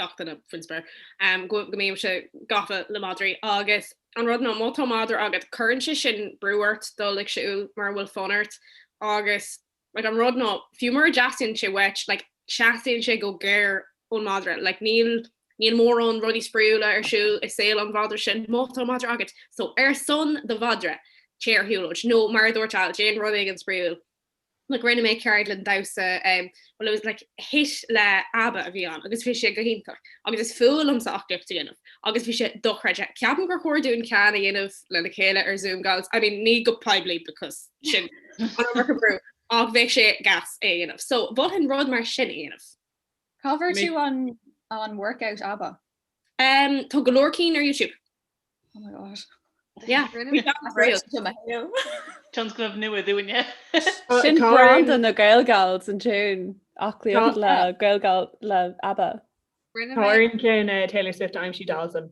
gach duine faoin spéir um go go mbímse gafa le madraí agus an rud ná má tá madra agat cuireann sé sin brú ort dul ag siúl mura bhfuil fonn ort agus Like an rud ná, fiú mura dteastaíonn sé uait, like teastaíonn sé go géar ón madra. Like níl, níl mórán rudaí spraíúla ar siúl i saol an mhadra sin má tá madra agat. So, ar son do mhadra, téigh ar shiúlóid. Nó, mar a dúirt Al, déan rud éigin spraíúil. Like rinne mé ceardlann damhsa, um, well it was like HIIT le ABBA a bhí ann agus bhí sé go hiontach. Agus is fuath liomsa aclaíocht a dhéanamh. Agus bhí sé dochreidte. Ceapaim gur chóir dúinn ceann a dhéanamh le chéile ar Zoom, gals. I mean, ní go poiblí because. sin an iomarca brú ach bheadh sé gas é a dhéanamh. So ba bhreá liom rud mar sin a dhéanamh. Cá bhfuair tú an workout ABBA? Tá go leor cinn ar YouTube. Oh my God. Yeah. Tionscnamh nua dúinne. Sin branda na GaelGals san tune, aclaíocht le GaelGals le ABBA. Táirín céanna Taylor Swift aimsí Dalton.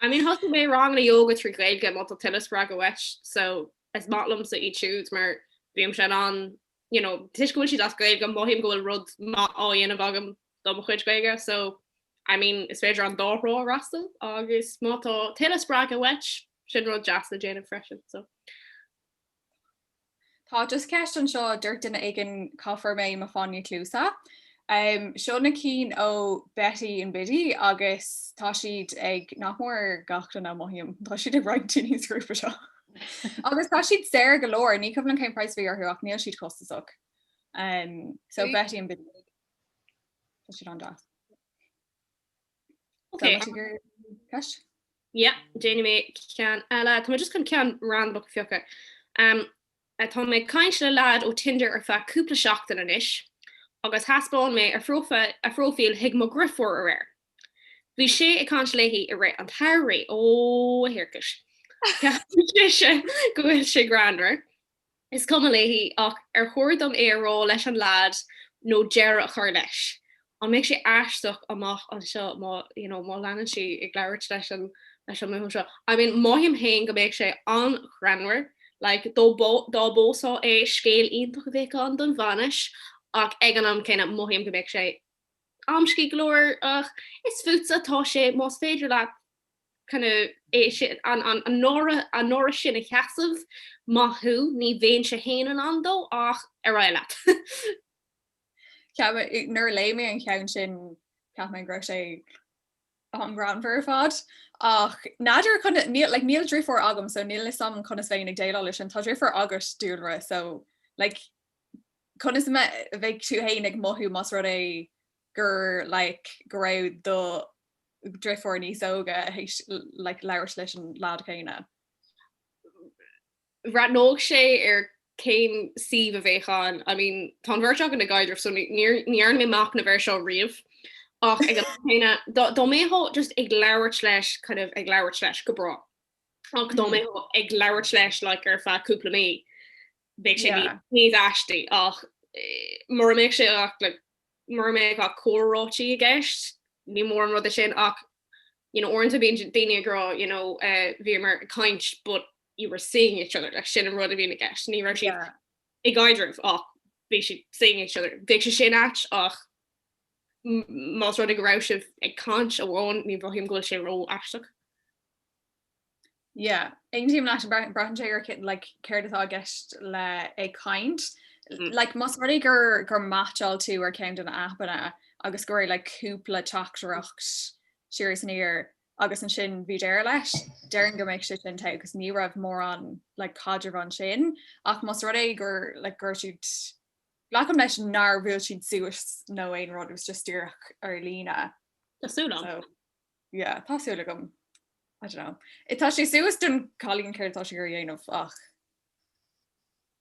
I mean thosaigh mé ranganna yoga trí Ghaeilge má tá tuilleadh spreagadh uait so is maith liomsa iad siúd mar bímse in ann you know toisc go bhfuil siad as Gaeilge mothaím go bhfuil rud maith á dhéanamh agam do mo chuid Gaeilge so I mean is féidir an dá thrá a fhreastal agus má tá tuilleadh spreagadh uait sin rud deas le déanamh freisin so. Tá just ceist anseo, dúirt duine éigin cá bhfuair mé mo fháinní cluasa. Seo na cinn ó Betty and Biddy agus tá siad ag, nach mór gach duine a mothaím, tá siad ag roinnt daoine sa ghrúpa seo. Agus tá siad saor go leor, ní cuimhin liom cén price a bhí orthu ach níl siad costasach. So Betty and Biddy. Tá siad an-deas. Ok. Yeah, déanfaidh mé ceann eile. Tá mé just chun ceann random a phiocadh. Um, eh, tá mé ag caint le leaid ó Tinder ar feadh cúpla seachtain anois agus thaispeáin mé a phrófa- a phróifíl chuig mo dheirfiúr aréir. Bhí sé ag caint léi i rith an tsamhraidh. Ó, a thiarcais. Ceapann sise go bhfuil sé greannmhar. Is cuma léi, ach ar chóir dom é a rá leis an leaid nó deireadh a chur leis? An mbeidh sé aisteach amach anseo má you know má leanann sí ag labhairt leis an leis an mbuachaill seo? I mean mothaím féin go mbeadh sé an-ghreannmhar like dá dá bpósfá é scéal iontach a bheadh ann don bhainis ach ag an am céanna mothaím go mbeadh sé amscaí go leor ach is fútsa atá sé más féidir leat an náire sin a sheasamh, maith thú, ní bheinnse féin in ann dó, ach ar aghaidh leat. Ceapaim, nuair a léigh mé an ceann sin, cheap mé go raibh sé an-ghreannmhar ar fad. Ach n'fheadar, níl deirfiúr agam so níl 'fhios a'm conas a bheinn ag déileáil leis sin. Tá deirfiúr agat, dúlra, so like conas a mbeadh tú fhéin ag mothú más rud é, gur like go raibh do dheirfiúr níos óige théis like labhairt leis an lad céanna. bhreathnódh sé ar cén suíomh a bheadh ann. I mean tá an bheirt againne i gcaidreamh so ní dhearna mé amach na bheirt seo riamh ach ag an am céanna dá mbeifeá just ag labhairt leis kind of ag labhairt leis go breá ach dá mbeifeá ag labhairt leis like ar feadh cúpla mí bheadh sé níos aistí ach mura mbeadh sé like mura mbeadh ach comhráití i gceist, ní mór an rud é sin ach you know uaireanta bíonn daoine ag rá you know bhíomar ag caint but you were seeing each other like sin an rud a bhíonn i gceist, ní raibh siad i gcaidreamh ach bhí siad seeing each other. Bheadh sé sin ait ach más rud é go raibh sibh ag caint amháin, ní mhothaím go bhfuil sé ró-aisteach. Yeah. Aontaím leat, braitheann sé ar like, céard atá i gceist le ag caint. Mm. Like, más rud é gur, gur mheaitseáil tú ar ceann de na aipeanna agus go raibh like, cúpla teachtaireacht siar is aniar agus ansin bhí deireadh leis, déarfainn go mbeidh sé sin te agus ní raibh mórán like, caidreamh ansin ach más rud é gur like, gur siad Glacaim leis nár bhuail siad suas nó aon rud, it was just díreach ar líne. Tá súil agam. So, yeah, tá súil agam, I don't know. Tá sé suas don chailín céard atá sí ag iarraidh a dhéanamh ach.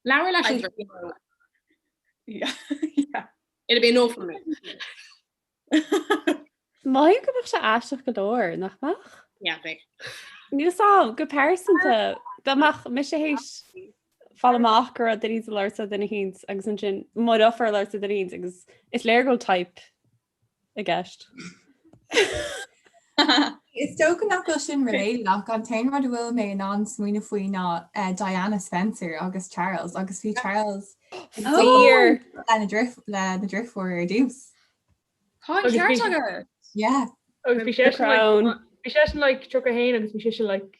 Labhair leis an deirfiúr. yeah, yeah. It'll be a no from me. Mothaím go mbeadh sé aisteach go leor, nach mbeadh? Yeah, bheadh. Níl a fhios agam, go pearsanta, dá mbeadh mise théis fáil amach go raibh duine ag labhairt le duine eicínt agus ansin mo dheirfiúr ag labhairt le duine eicínt agus is léir go bhfuil type i gceist. Is dócha nach bhfuil sin related ach an t-aon rud a bhfuil mé in ann smaoineamh faoi ná Diana Spencer agus Charles agus bhí Charles ag dul lena deirfiúr ar dtús. Tá an ceart agat. Yeah. Agus bhí seisean like 31 agus bhí sise like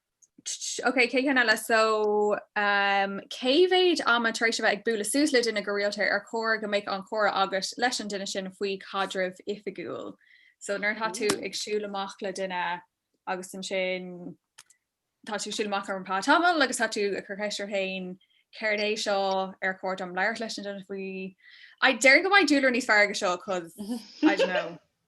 Ok chéad cheann eile so um, cé mhéad ama tar éis a bheith ag bualadh suas le duine go rialta ar chóir go mbeadh an comhrá agat leis an duine sin faoi chaidreamh oifigiúil? So nuair atá tú ag siúl amach le duine agus ansin tá tú ag siúl amach ar feadh tamaill agus tá tú ag cur ceist ort féin céard é seo ar chóir dom labhairt leis an duine faoi I déarfainn go mbeidh dúlar níos fearr aige seo cos I don't know.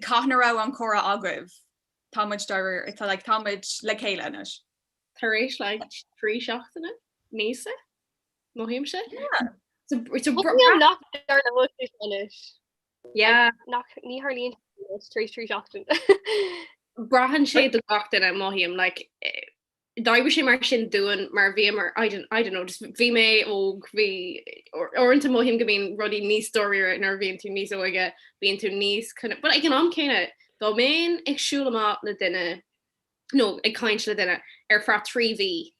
Cathain a raibh an comhrá agaibh. Tá muid dáiríre. It's like tá muid le chéile anois. Tar éis like trí seachtaine? Míosa? Mothaímse? Yeah. It's a Bhí an nach deir na muid is anois. Yeah. Nach ní tharlaíonn sé anois tar éis trí seachtaine. Braitheann sé do gach duine, mothaím, like D'oibrigh sé mar sin dúinn mar bhíomar, I don't, I don't know, just bhí mé óg, bhí, uaireanta mothaím go mbíonn rudaí níos dáiríre nuair a bhíonn tú níos óige, bíonn tú níos kind of, but ag an am céanna, dá mbeinn ag siúl amach le duine, nó ag caint le duine ar feadh trí mhí,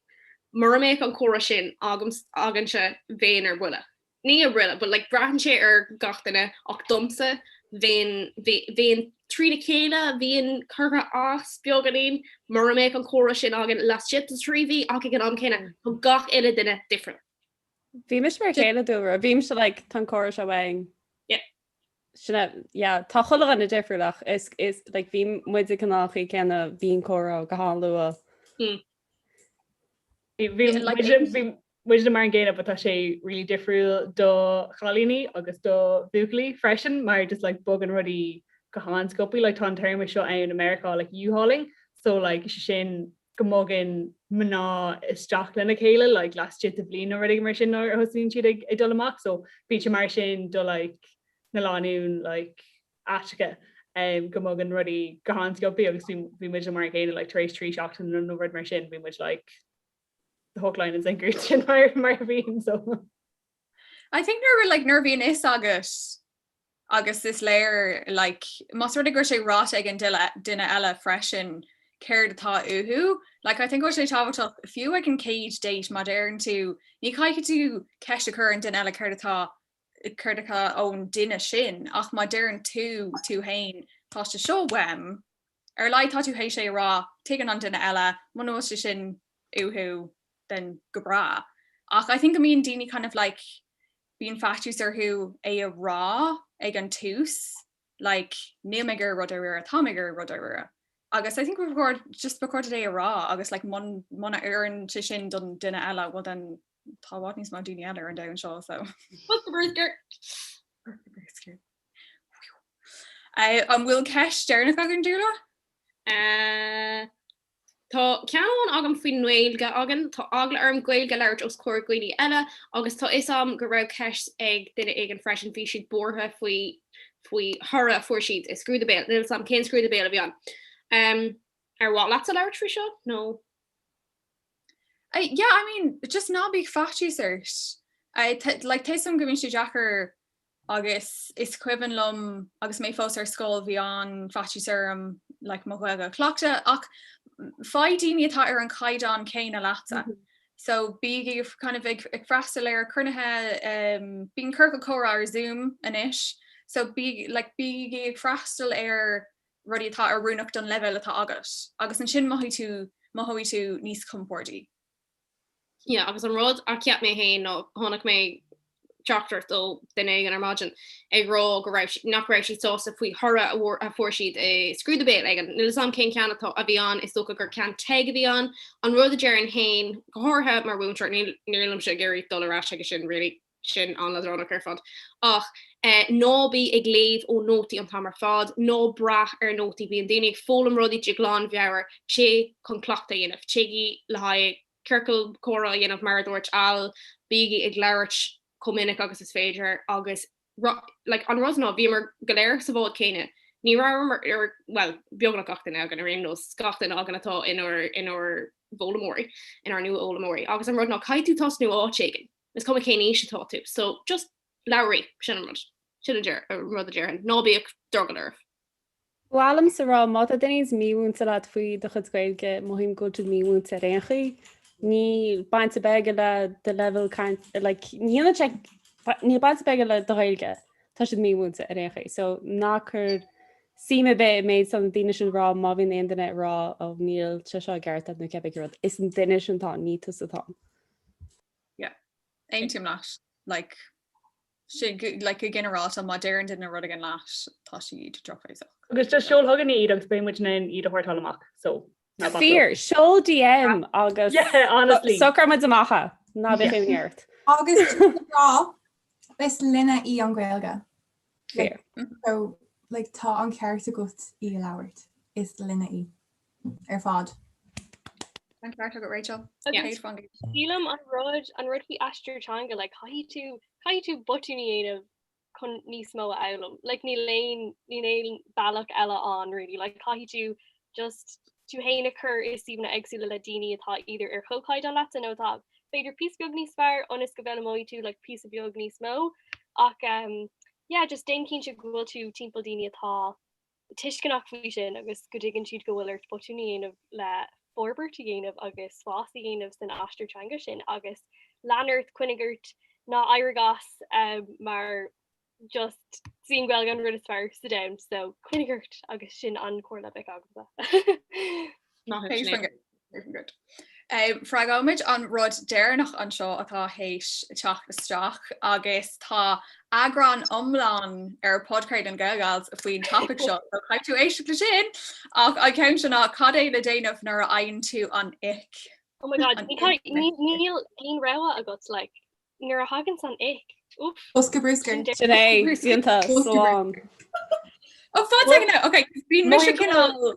mura mbeadh an comhrá sin againne, bheinn ar buile. Ní ar buile, but like braitheann sé ar gach duine, ach domsa bheinn, bheinn trína chéile, bheinn curtha as, beagáinín, mura mbeadh an comhrá sin againn laistigh de trí mhí, ach ag an am céanna, tá gach uile duine different. Bhímis mar a chéile Dúlra, bhímisne like, tá an comhrá seo uainn. Yeah. Sin é, yeah. Tá chuile dhuine difriúil, ach is, like, bhí muid an chaoi chéanna, bhí an comhrá go han-luath. Mm. Bhí, bhí, Yeah, like, muid, bhí muidne mar an gcéanna, but tá sé really difriúil do chailíní agus do bhuachaillí freisin, mar just, like, bogann rudaí go han-sciobtha. Like, tá an téarma seo ann i Meiriceá, like, U-hauling, so, like, is é sin go mbogann mná isteach lena chéile like laistigh de bhliain nó rud éigin mar sin nuair a thosaíonn siad ag dul amach so bíonn sé mar sin do like na lánúin like aiteacha um, go mbogann rudaí go han-sciobtha agus bhí muid mar an gcéanna like, tar éis trí seachtain nó nó rud mar sin bhí muid like, the hook line and sinker sin mar mar a bhí ann so. I think nuair like nuair a bhíonn a fhios agat agus is léir like más rud é go raibh sé ráite ag an duile duine eile freisin céard atá uathu like I think go bhfuil sé tábhachtach fiú ag an chéad date má deireann tú ní chaithfidh tú ceist a chur ar an duine eile céard atá céard atá ón duine sin ach má deireann tú tú féin tá sé seo uaim ar a laghad tá tú th'éis é a rá tuigeann an duine eile muna bhfuil sé sin uathu then go breá ach I think go mbíonn daoine kind of like bíonn faitíos orthu é a rá ag an tús like níl mé ag iarraidh rud dáiríre, tá mé ag iarraidh rud dáiríre agus I think just ba chóir é a rá agus like muna oireann sé sin don duine eile bhuel then tá i bhfad níos mó daoine eile ar an domhan seo so what's the birth skirt? an bhfuil ceist deireanach againn Dúlra? Tá ceann amháin agam faoin nGaeilge againn, tá eagla orm Gaeilge a labhairt os comhair dhaoine eile agus tá 'fhios a'm go raibh ceist ag duine éigin freisin, bhí siad buartha faoi faoi thoradh a fuair siad i scrúdú béil, níl 's a'm cén scrúdú béil a bhí ann. Em ar mhaith leatsa labhairt faoi seo nó.? Yeah I mean just ná bíodh faitíos ort. Like tá 'fhios a'm go mbíonn sé deacair Agus is cuimhin liom agus mé fós ar scoil bhí faitíos orm like mo Ghaeilge a chleachtadh ach faigh daoine atá ar an chaighdeán céanna leatsa so bígí kind of ag freastal ar chruinnithe ehm bíonn ciorcail chomhrá ar zoom anois so bígí like bígí ag freastal ar rudaí atá oiriúnach don leibhéal atá agat agus ansin mothaigh tú mothóidh tú níos compordaí. Agus an rud a cheap mé féin nó chonaic mé teachtaireacht ó duine éigin ar maidin ag rá go raibh siad, nach raibh siad sásta faoi thoradh a fuair siad i Scrúdú Béil éigin. Níl 'fhios a'm cén ceann atá, a bhí ann, is dócha gur ceann TEG a bhí ann. An rud a déarfainn féin, go háirithe mar mhúinteoir, níl, ní bhímse ag iarraidh dul ar ais aige sin really. sin an-leadránach ar fad. Ach ná bí ag léamh ó nótaí an t-am ar fad, ná brath ar nótaí, bíonn daoine ag foghlaim rudaí de ghlanmheabhair, téigh chun cleachtadh a dhéanamh, téigí le haghaidh ciorcal comhrá a dhéanamh mar a dúirt Al, bígí ag labhairt chomh minic agus is féidir agus like an rud ná, bhíomar go léir sa bhád céanna, ní rabhamar, bhuel, beagnach gach duine againn ar aon nós, gach duine againn atá inár bhfoghlaimeoirí, inár nua-fhoghlaimeoirí agus an rud ná, caithfidh tú tosnú áit éigin. Is cuma cén aois atá tú, so just labhraígí, sin an rud. Sin an rud a déarfainn, ná bíodh drogall oraibh. Ba mhaith liomsa a rá, má tá daoine mímhúinte leat faoi do chuid Gaeilge, mothaím go bhfuil siad mímhúinte ar aon chaoi. Níl baint ar bith aige le do leibhéal caint, like, ní hionann sé, níl baint ar bith aige le do Ghaeilge, tá siad mímhúinte ar aon chaoi. So ná cuir suim ar bith i méid atá na daoine sin a rá má bhíonn aon duine ag rá ó níl sé seo i gceart a'd nó cibé rud, is an duine sin atá ann, ní tusa atá ann. Yeah. Aontaím leat. Like sé like go ginearálta má deireann duine rud éigin leat tá siad drochbhéasach. Agus just seol chugainn iad agus beidh muidne in ann iad a shórtáil amach. So ná bac leo. Fair, seol DM agus Yeah, honestly. socróidh muid amach é. Ná bíodh imní ort. Agus sin le rá, is linne í an Ghaeilge. Fair. So like tá an ceart agat í a labhairt. Is linne í. ar fad. An ceart agat Rachel. Sílim an rud an rud faoi aistear teanga like caithfidh tú caithfidh tú botúin a dhéanamh chun níos mó a fhoghlaim like níl aon níl aon bealach eile ann really like caithfidh tú just tú féin a chur i suíomhanna éagsúla le daoine atá either ar chomhchaighdeán leatsa nó atá b'fhéidir píosa beag níos fearr ionas go bhfoghlaimeoidh tú like píosa beag níos mó ach yeah just déan cinnte go bhfuil tú timpeall daoine atá tuisceanach faoi sin agus go dtuigeann siad go bhfuil ort botún a dhéanamh le forbairt a dhéanamh agus spás a dhéanamh san aistear teanga sin agus lean ort, coinnigh ort, ná éirigh as mar just is í an Ghaeilge an rud is fearr sa domhan so coinnigh ort agus sin an chomhairle a bheadh agamsa. Moving good. Freagróimid an rud deireanach anseo atá théis teacht isteach agus tá eagrán iomlán ar phodchraoladh na Gaelgeals faoin topaic seo so caithfidh tú éisteacht le sin ach an ceann seo ná cad é le déanamh nuair a fhaigheann tú an ick? Oh my god, níl aon rogha agat like nuair a thaganns an ick, oof. Bosca brúscair. Sin é, síonta, slán. Ó fáilte, ok, bíonn mise cineál.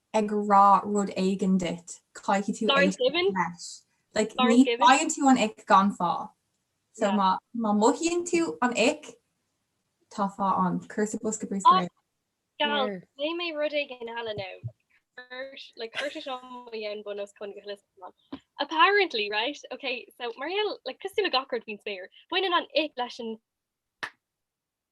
ag rá rud éigin duit, caithfidh tú éisteacht leis. Like, ní fhaigheann tú an ic gan fáth. So, má, má mothaíonn tú an ic, tá fáth ann. Cuir sa bhosca bruscair é. Gal, léigh mé rud éigin eile now. Chuir, like, chuir sé seo mo cheann bunoscionn go huile is go hiomlán. Apparently, right, ok, so mar gheall, like, cosúil le gach rud faoin spéir, baineann an ic leis an.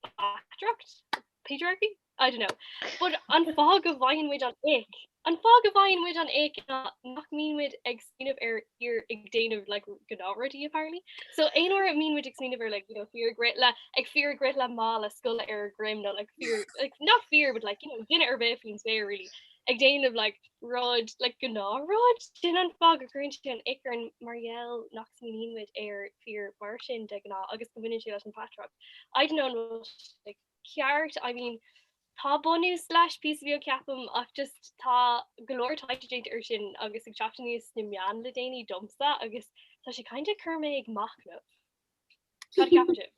backdraft? Patriarchy? I don't know. But an fáth go bhfaigheann muid an ick? An fáth go bhfaigheann muid an ick ná nach mbíonn muid ag smaoineamh ar fhir ag déanamh like gnáthrudaí apparently. So aon uair a mbíonn muid ag smaoineamh ar like, you know, fir ag rith le ag fir ag rith le mála scoile ar a dhroim nó like, fir, like, ní fir but like, you know, duine ar bith faoin spéir really ag déanamh like, rud, like gnáthrud, sin an fáth go gcuireann sé an ick orainn mar gheall nach smaoiníonn muid ar fhir mar sin de ghnáth agus go mbaineann sé leis an bpatrarc. I don't know an bhfuil sé ceart, I mean tá bunús leis píosa beag ceapaim ach just tá go leor taighde déanta air sin agus ag teacht aníos ar na meáin le déanaí domsa agus tá sé kind of cur mé ag machnamh. Cad a ceapann sibh?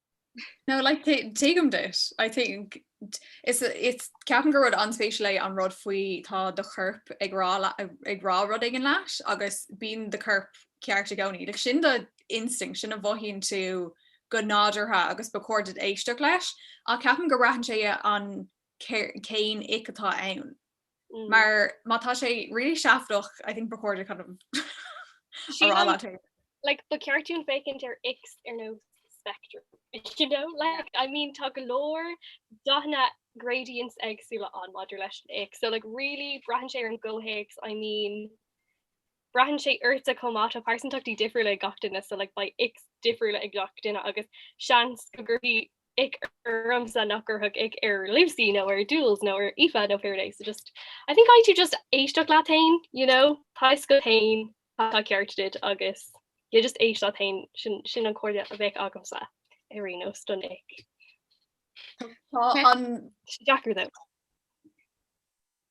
No like t- tuigim duit, I think is it's ceapaim gur rud an-spéisiúil é an rud faoi tá do chorp ag rá le- ag rá rud éigin leat agus bíonn do corp ceart i gcónaí. Like sin do instinct, sin a mhothaíonn tú go nádúrtha agus ba chóir duit éisteacht leis. Ach ceapaim go mbraitheann sé an cér- cén ick atá ann. Mar má tá sé really seafadach, I think ba chóir duit kind of a rá leat féin. Like, ba ceart dúinn féachaint ar icks ar nós spectrum, you know? Like, I mean, tá go leor dathanna gradients éagsúla ann maidir leis an ick. So, like, really, braitheann sé ar an gcomhthéacs, I mean, Braitheann sé ortsa chomh maith, tá pearsantachtaí difriúla ag gach duine so like beidh ics difriúla ag gach duine agus seans go gcuirfí ick ormsa nach gcuirfeadh ic ar Lucy nó ar Jules nó ar Aoife nó whoever it is so just I think caithfidh tú just éisteacht leat féin you know tá a fhios agat féin cad atá ceart duit agus yeah just éist leat féin sin sin an comhairle a bheadh agamsa ar aon nós don ic. Tá sé deacair though.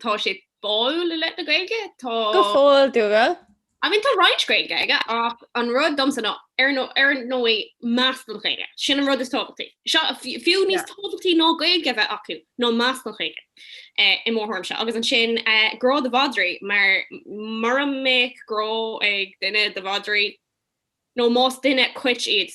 Tá sé báúil i leith na Gaeilge. Tá. Go fóill dúile. I mean, tá roinnt Gaeilge aige ach an rud domsa ná, ar ndóigh, ar ndóigh, meas don Ghaeilge. Sin an rud is tábhachtaí. Seo, fiú níos tábhachtaí ná Gaeilge a bheith acu ná meas don Ghaeilge, i mo thuairimse. Agus ansin, grá do mhadraí, mar mura mbeadh grá ag duine do mhadraí, nó más duine cait iad,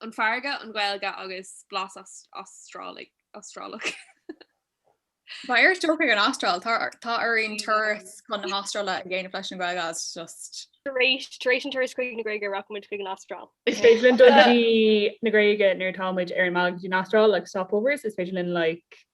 An fharraige, An Ghaeilge agus blas Astrálach. B'fhearr é a stocáil san Astráil, tá orainn turas chun na hAstráile a dhéanamh leis an nGaeilge agus just. Tar éis an turas chuig an nGréig rachaidh muid chuig an Astráil. Is féidir linn dul go dtí an Ghréig nuair atá muid ar an mbealach go dtí an Astráil, like stopovers, is féidir linn like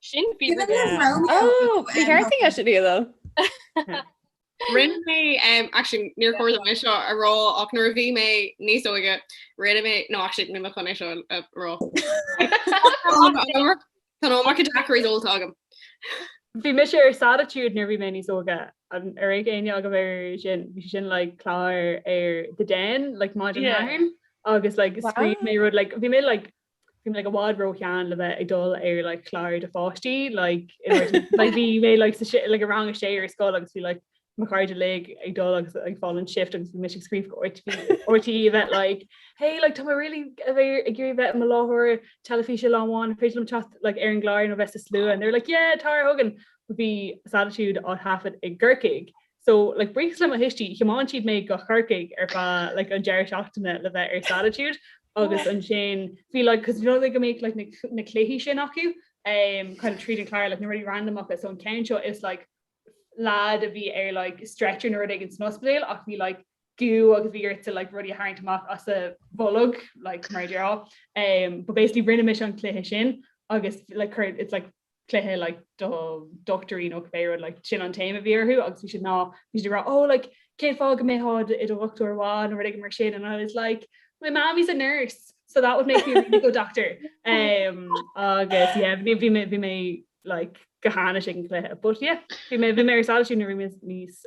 Sin bí Bhí mé Romeo. Oh, bhí um, ceart aige sin though. Rinne mé, um, actually, níor chóir dom é seo a rá, ach nuair a bhí mé níos óige, rinne mé, no, actually, níl mé chun é seo a rá. Tá nó mar daiquiris ólta agam. Bhí mise ar Sattitude nuair bhí mé níos óige an raibh aithne agat air sin bhí sé sin like clár ar The Den like má Yeah. sin agus like Wow. scríobh mé rud like bhí mé like Bhí mé ag i bhfad ró shean le bheith ag dul ar like clár do pháistí like in order to like bhí mé like sa si- like i rang a sé ar scoil agus bhí like mo chairde uilig ag dul agus ag fáil an shift agus bhí mise ag scríobh go RT RTÉ a bheith like hey like tá mé really a bheith ar- ag iarraidh bheith i mo láithreoir teilifíse lá amháin an féidir liom teacht like ar an gclár nó bheith sa slua and they were like yeah tar chugainn bhí Sattitude á thaifead i gCorcaigh So, like buíochas le mo thuistí, thiomáin siad mé go Corcaigh ar feadh like an deireadh seachtaine le bheith ar Sattitude agus ansin bhí like, cos you know the way go mbíodh like na cluichí sin acu um kind of tríd an clár like na rudaí randomacha so an ceann seo is like lad a bhí ar like stretcher nó rud éigin san ospidéal ach bhí like gú agus bhí ort like rudaí a tharraingt amach as a bholg like mar dhea um but basically rinne mise an cluiche sin agus like cur it's like cluiche like do dochtúirí nó cibé rud like sin an téama a bhí air agus bhí siad ná bhí siad ag rá oh like cén fáth go mbeifeá i do dhochtúir maith nó rud éigin mar sin and I was like my mom is a nurse so that would make me a really good doctor um, agus yeah bhí bhí mé bhí mé like go huafásach ag an cluiche but yeah bhí mé bhí mé ar sáilisiú na rúmas níos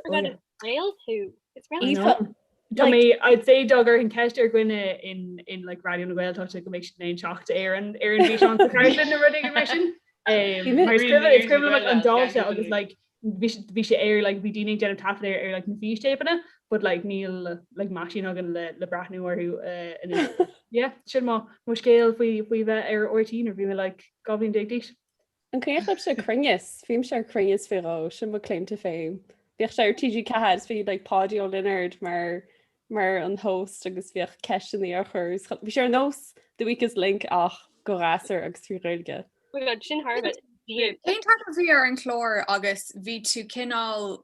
Gael tú. It's really Aoife, Tá mé I'd say dá gcuirfinn ceist ar dhuine éigin in like Raidió na Gaeltachta go mbeidh siad in ann teacht ar an ar an bhfíseán sa chartlann nó rud éigin mar sin. Um, mar is cuimhin is cuimhin liom an dáta agus like bhí si- bhí sé ar like bhí daoine ag déanamh taifead ar ar like na fístéipeanna but like níl like meaisín againn le le breathnú orthu eh, anois. Yeah, sin mo mo scéal faoi faoi bheith ar RTÉ nuair bhí mé like dhá bhliain déag d'aois. An cuimhneach libhse Cruinneas, bhí mise ar Cruinneas faoi dhó, sin mo claim to fame. Bhíodh sé ar TG4 agus bhí like Páidí Ó Lionáird mar mar an host agus bhíodh ceisteannaí á chur is, bhí sé ar nós The Weakest Link ach do ghasúir agus trí Ghaeilge. Oh my God, sin thar a bheith dian. Cén t-ainm a bhí ar an chlár agus bhí tú cineál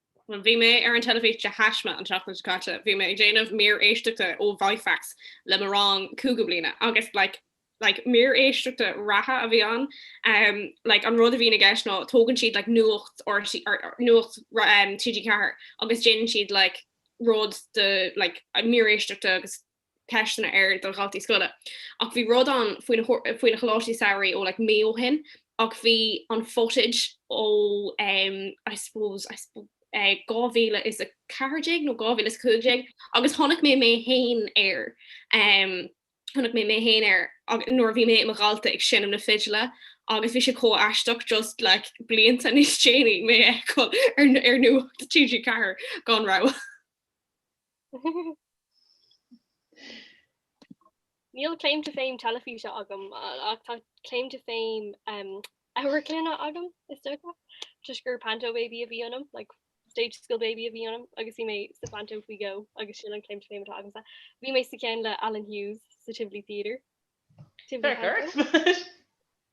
Bhí mé ar an teilifís de thaisme an tseachtain seo caite, bhí mé ag déanamh mír éisteachta ó Vifax le mo rang cúigiú bliana agus like like mír éisteachta reatha a bhí ann um like an rud a bhíonn i gceist ná tógann siad like nuacht RTÉ nuacht um TG4 agus déanann siad like rud de like mír éisteachta agus ceisteanna air do dhaltaí scoile ach bhí rud ann faoi na choláistí samhraidh ó like mí ó shin ach bhí an footage ó um I suppose I suppose eh 2014 nó 2015 agus chonaic mé mé fhéin air um chonaic mé mé fhéin air nuair a bhí mé i mo dhalta ag seinm na fidle agus bhí sé chomh aisteach just like blianta níos déanaí mé ar ar ar nuacht TG4 gan rabhadh. Níl claim to fame teilifíse agam ach tá claim to fame amharclainne agam, is dócha, toisc gur panto baby a bhí ionam, like stage school baby a bhí ionam agus bhí mé sa phanto faoi dhó agus sin an claim to fame atá agamsa. Bhí mé sa cheann le Alan Hughes sa Tivoli Theatre. Tivoli Theatre?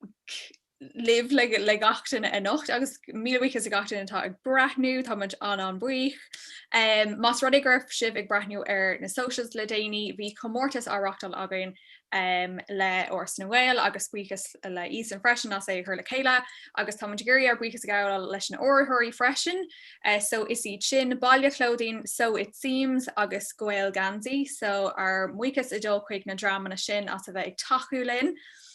Mac libh le gach duine anocht agus míle buíochas le gach duine atá ag breathnú, tá muid an-an-bhuíoch. Más rud é go raibh sibh ag breathnú ar na socials le déanaí, bhí comórtas á reáchtáil againn le Áras na nGael agus buíochas le Ethan freisin as é a chur le chéile agus tá muid ag iarraidh ár buíochas a ghabháil leis na hurraitheoirí freisin. So is iad sin, Baile Clothing, Sew It Seams agus Gaeilgheansaí. So ár mbuíochas ag dul chuig na dreamanna sin as a bheith ag tacú linn.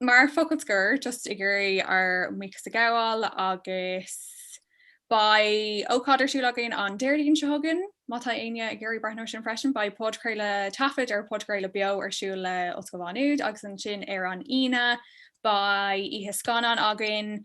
mar focal scoir, just ag iarraidh ár mbuíochas a ghabháil agus beidh ócáid ar siúl againn an Déardaoin seo chugainn, má tá éinne ag iarraidh breathnú ar sin freisin, beidh podchraoladh, taifead ar phodchraoladh beo ar siúl le Ollscoil Mhá Nuad agus ansin ar an Aoine beidh oíche scannán againn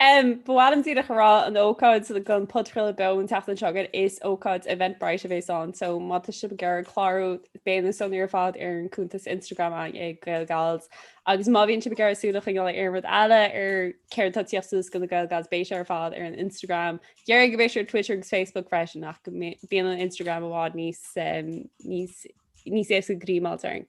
M, Ba mhaith liom díreach a rá an ócáid don podchraoladh beo an tseachtain seo chugainn is ócáid Eventbrite a bhéas ann so má tá sibh ag iarraidh clárú beidh na sonraí ar fad ar an cuntas Instagram againn ag GaelGals agus má bhíonn sibh ag iarraidh súil a choinneáil ar aon rud eile ar céard atá tíocht suas go na GaelGals beidh sé ar fad ar an Instagram déarfainn go mbeidh sé ar Twitter agus Facebook freisin ach go bíonn an Instagram i bhfad níos níos níos éasca greim a fháilt orainn.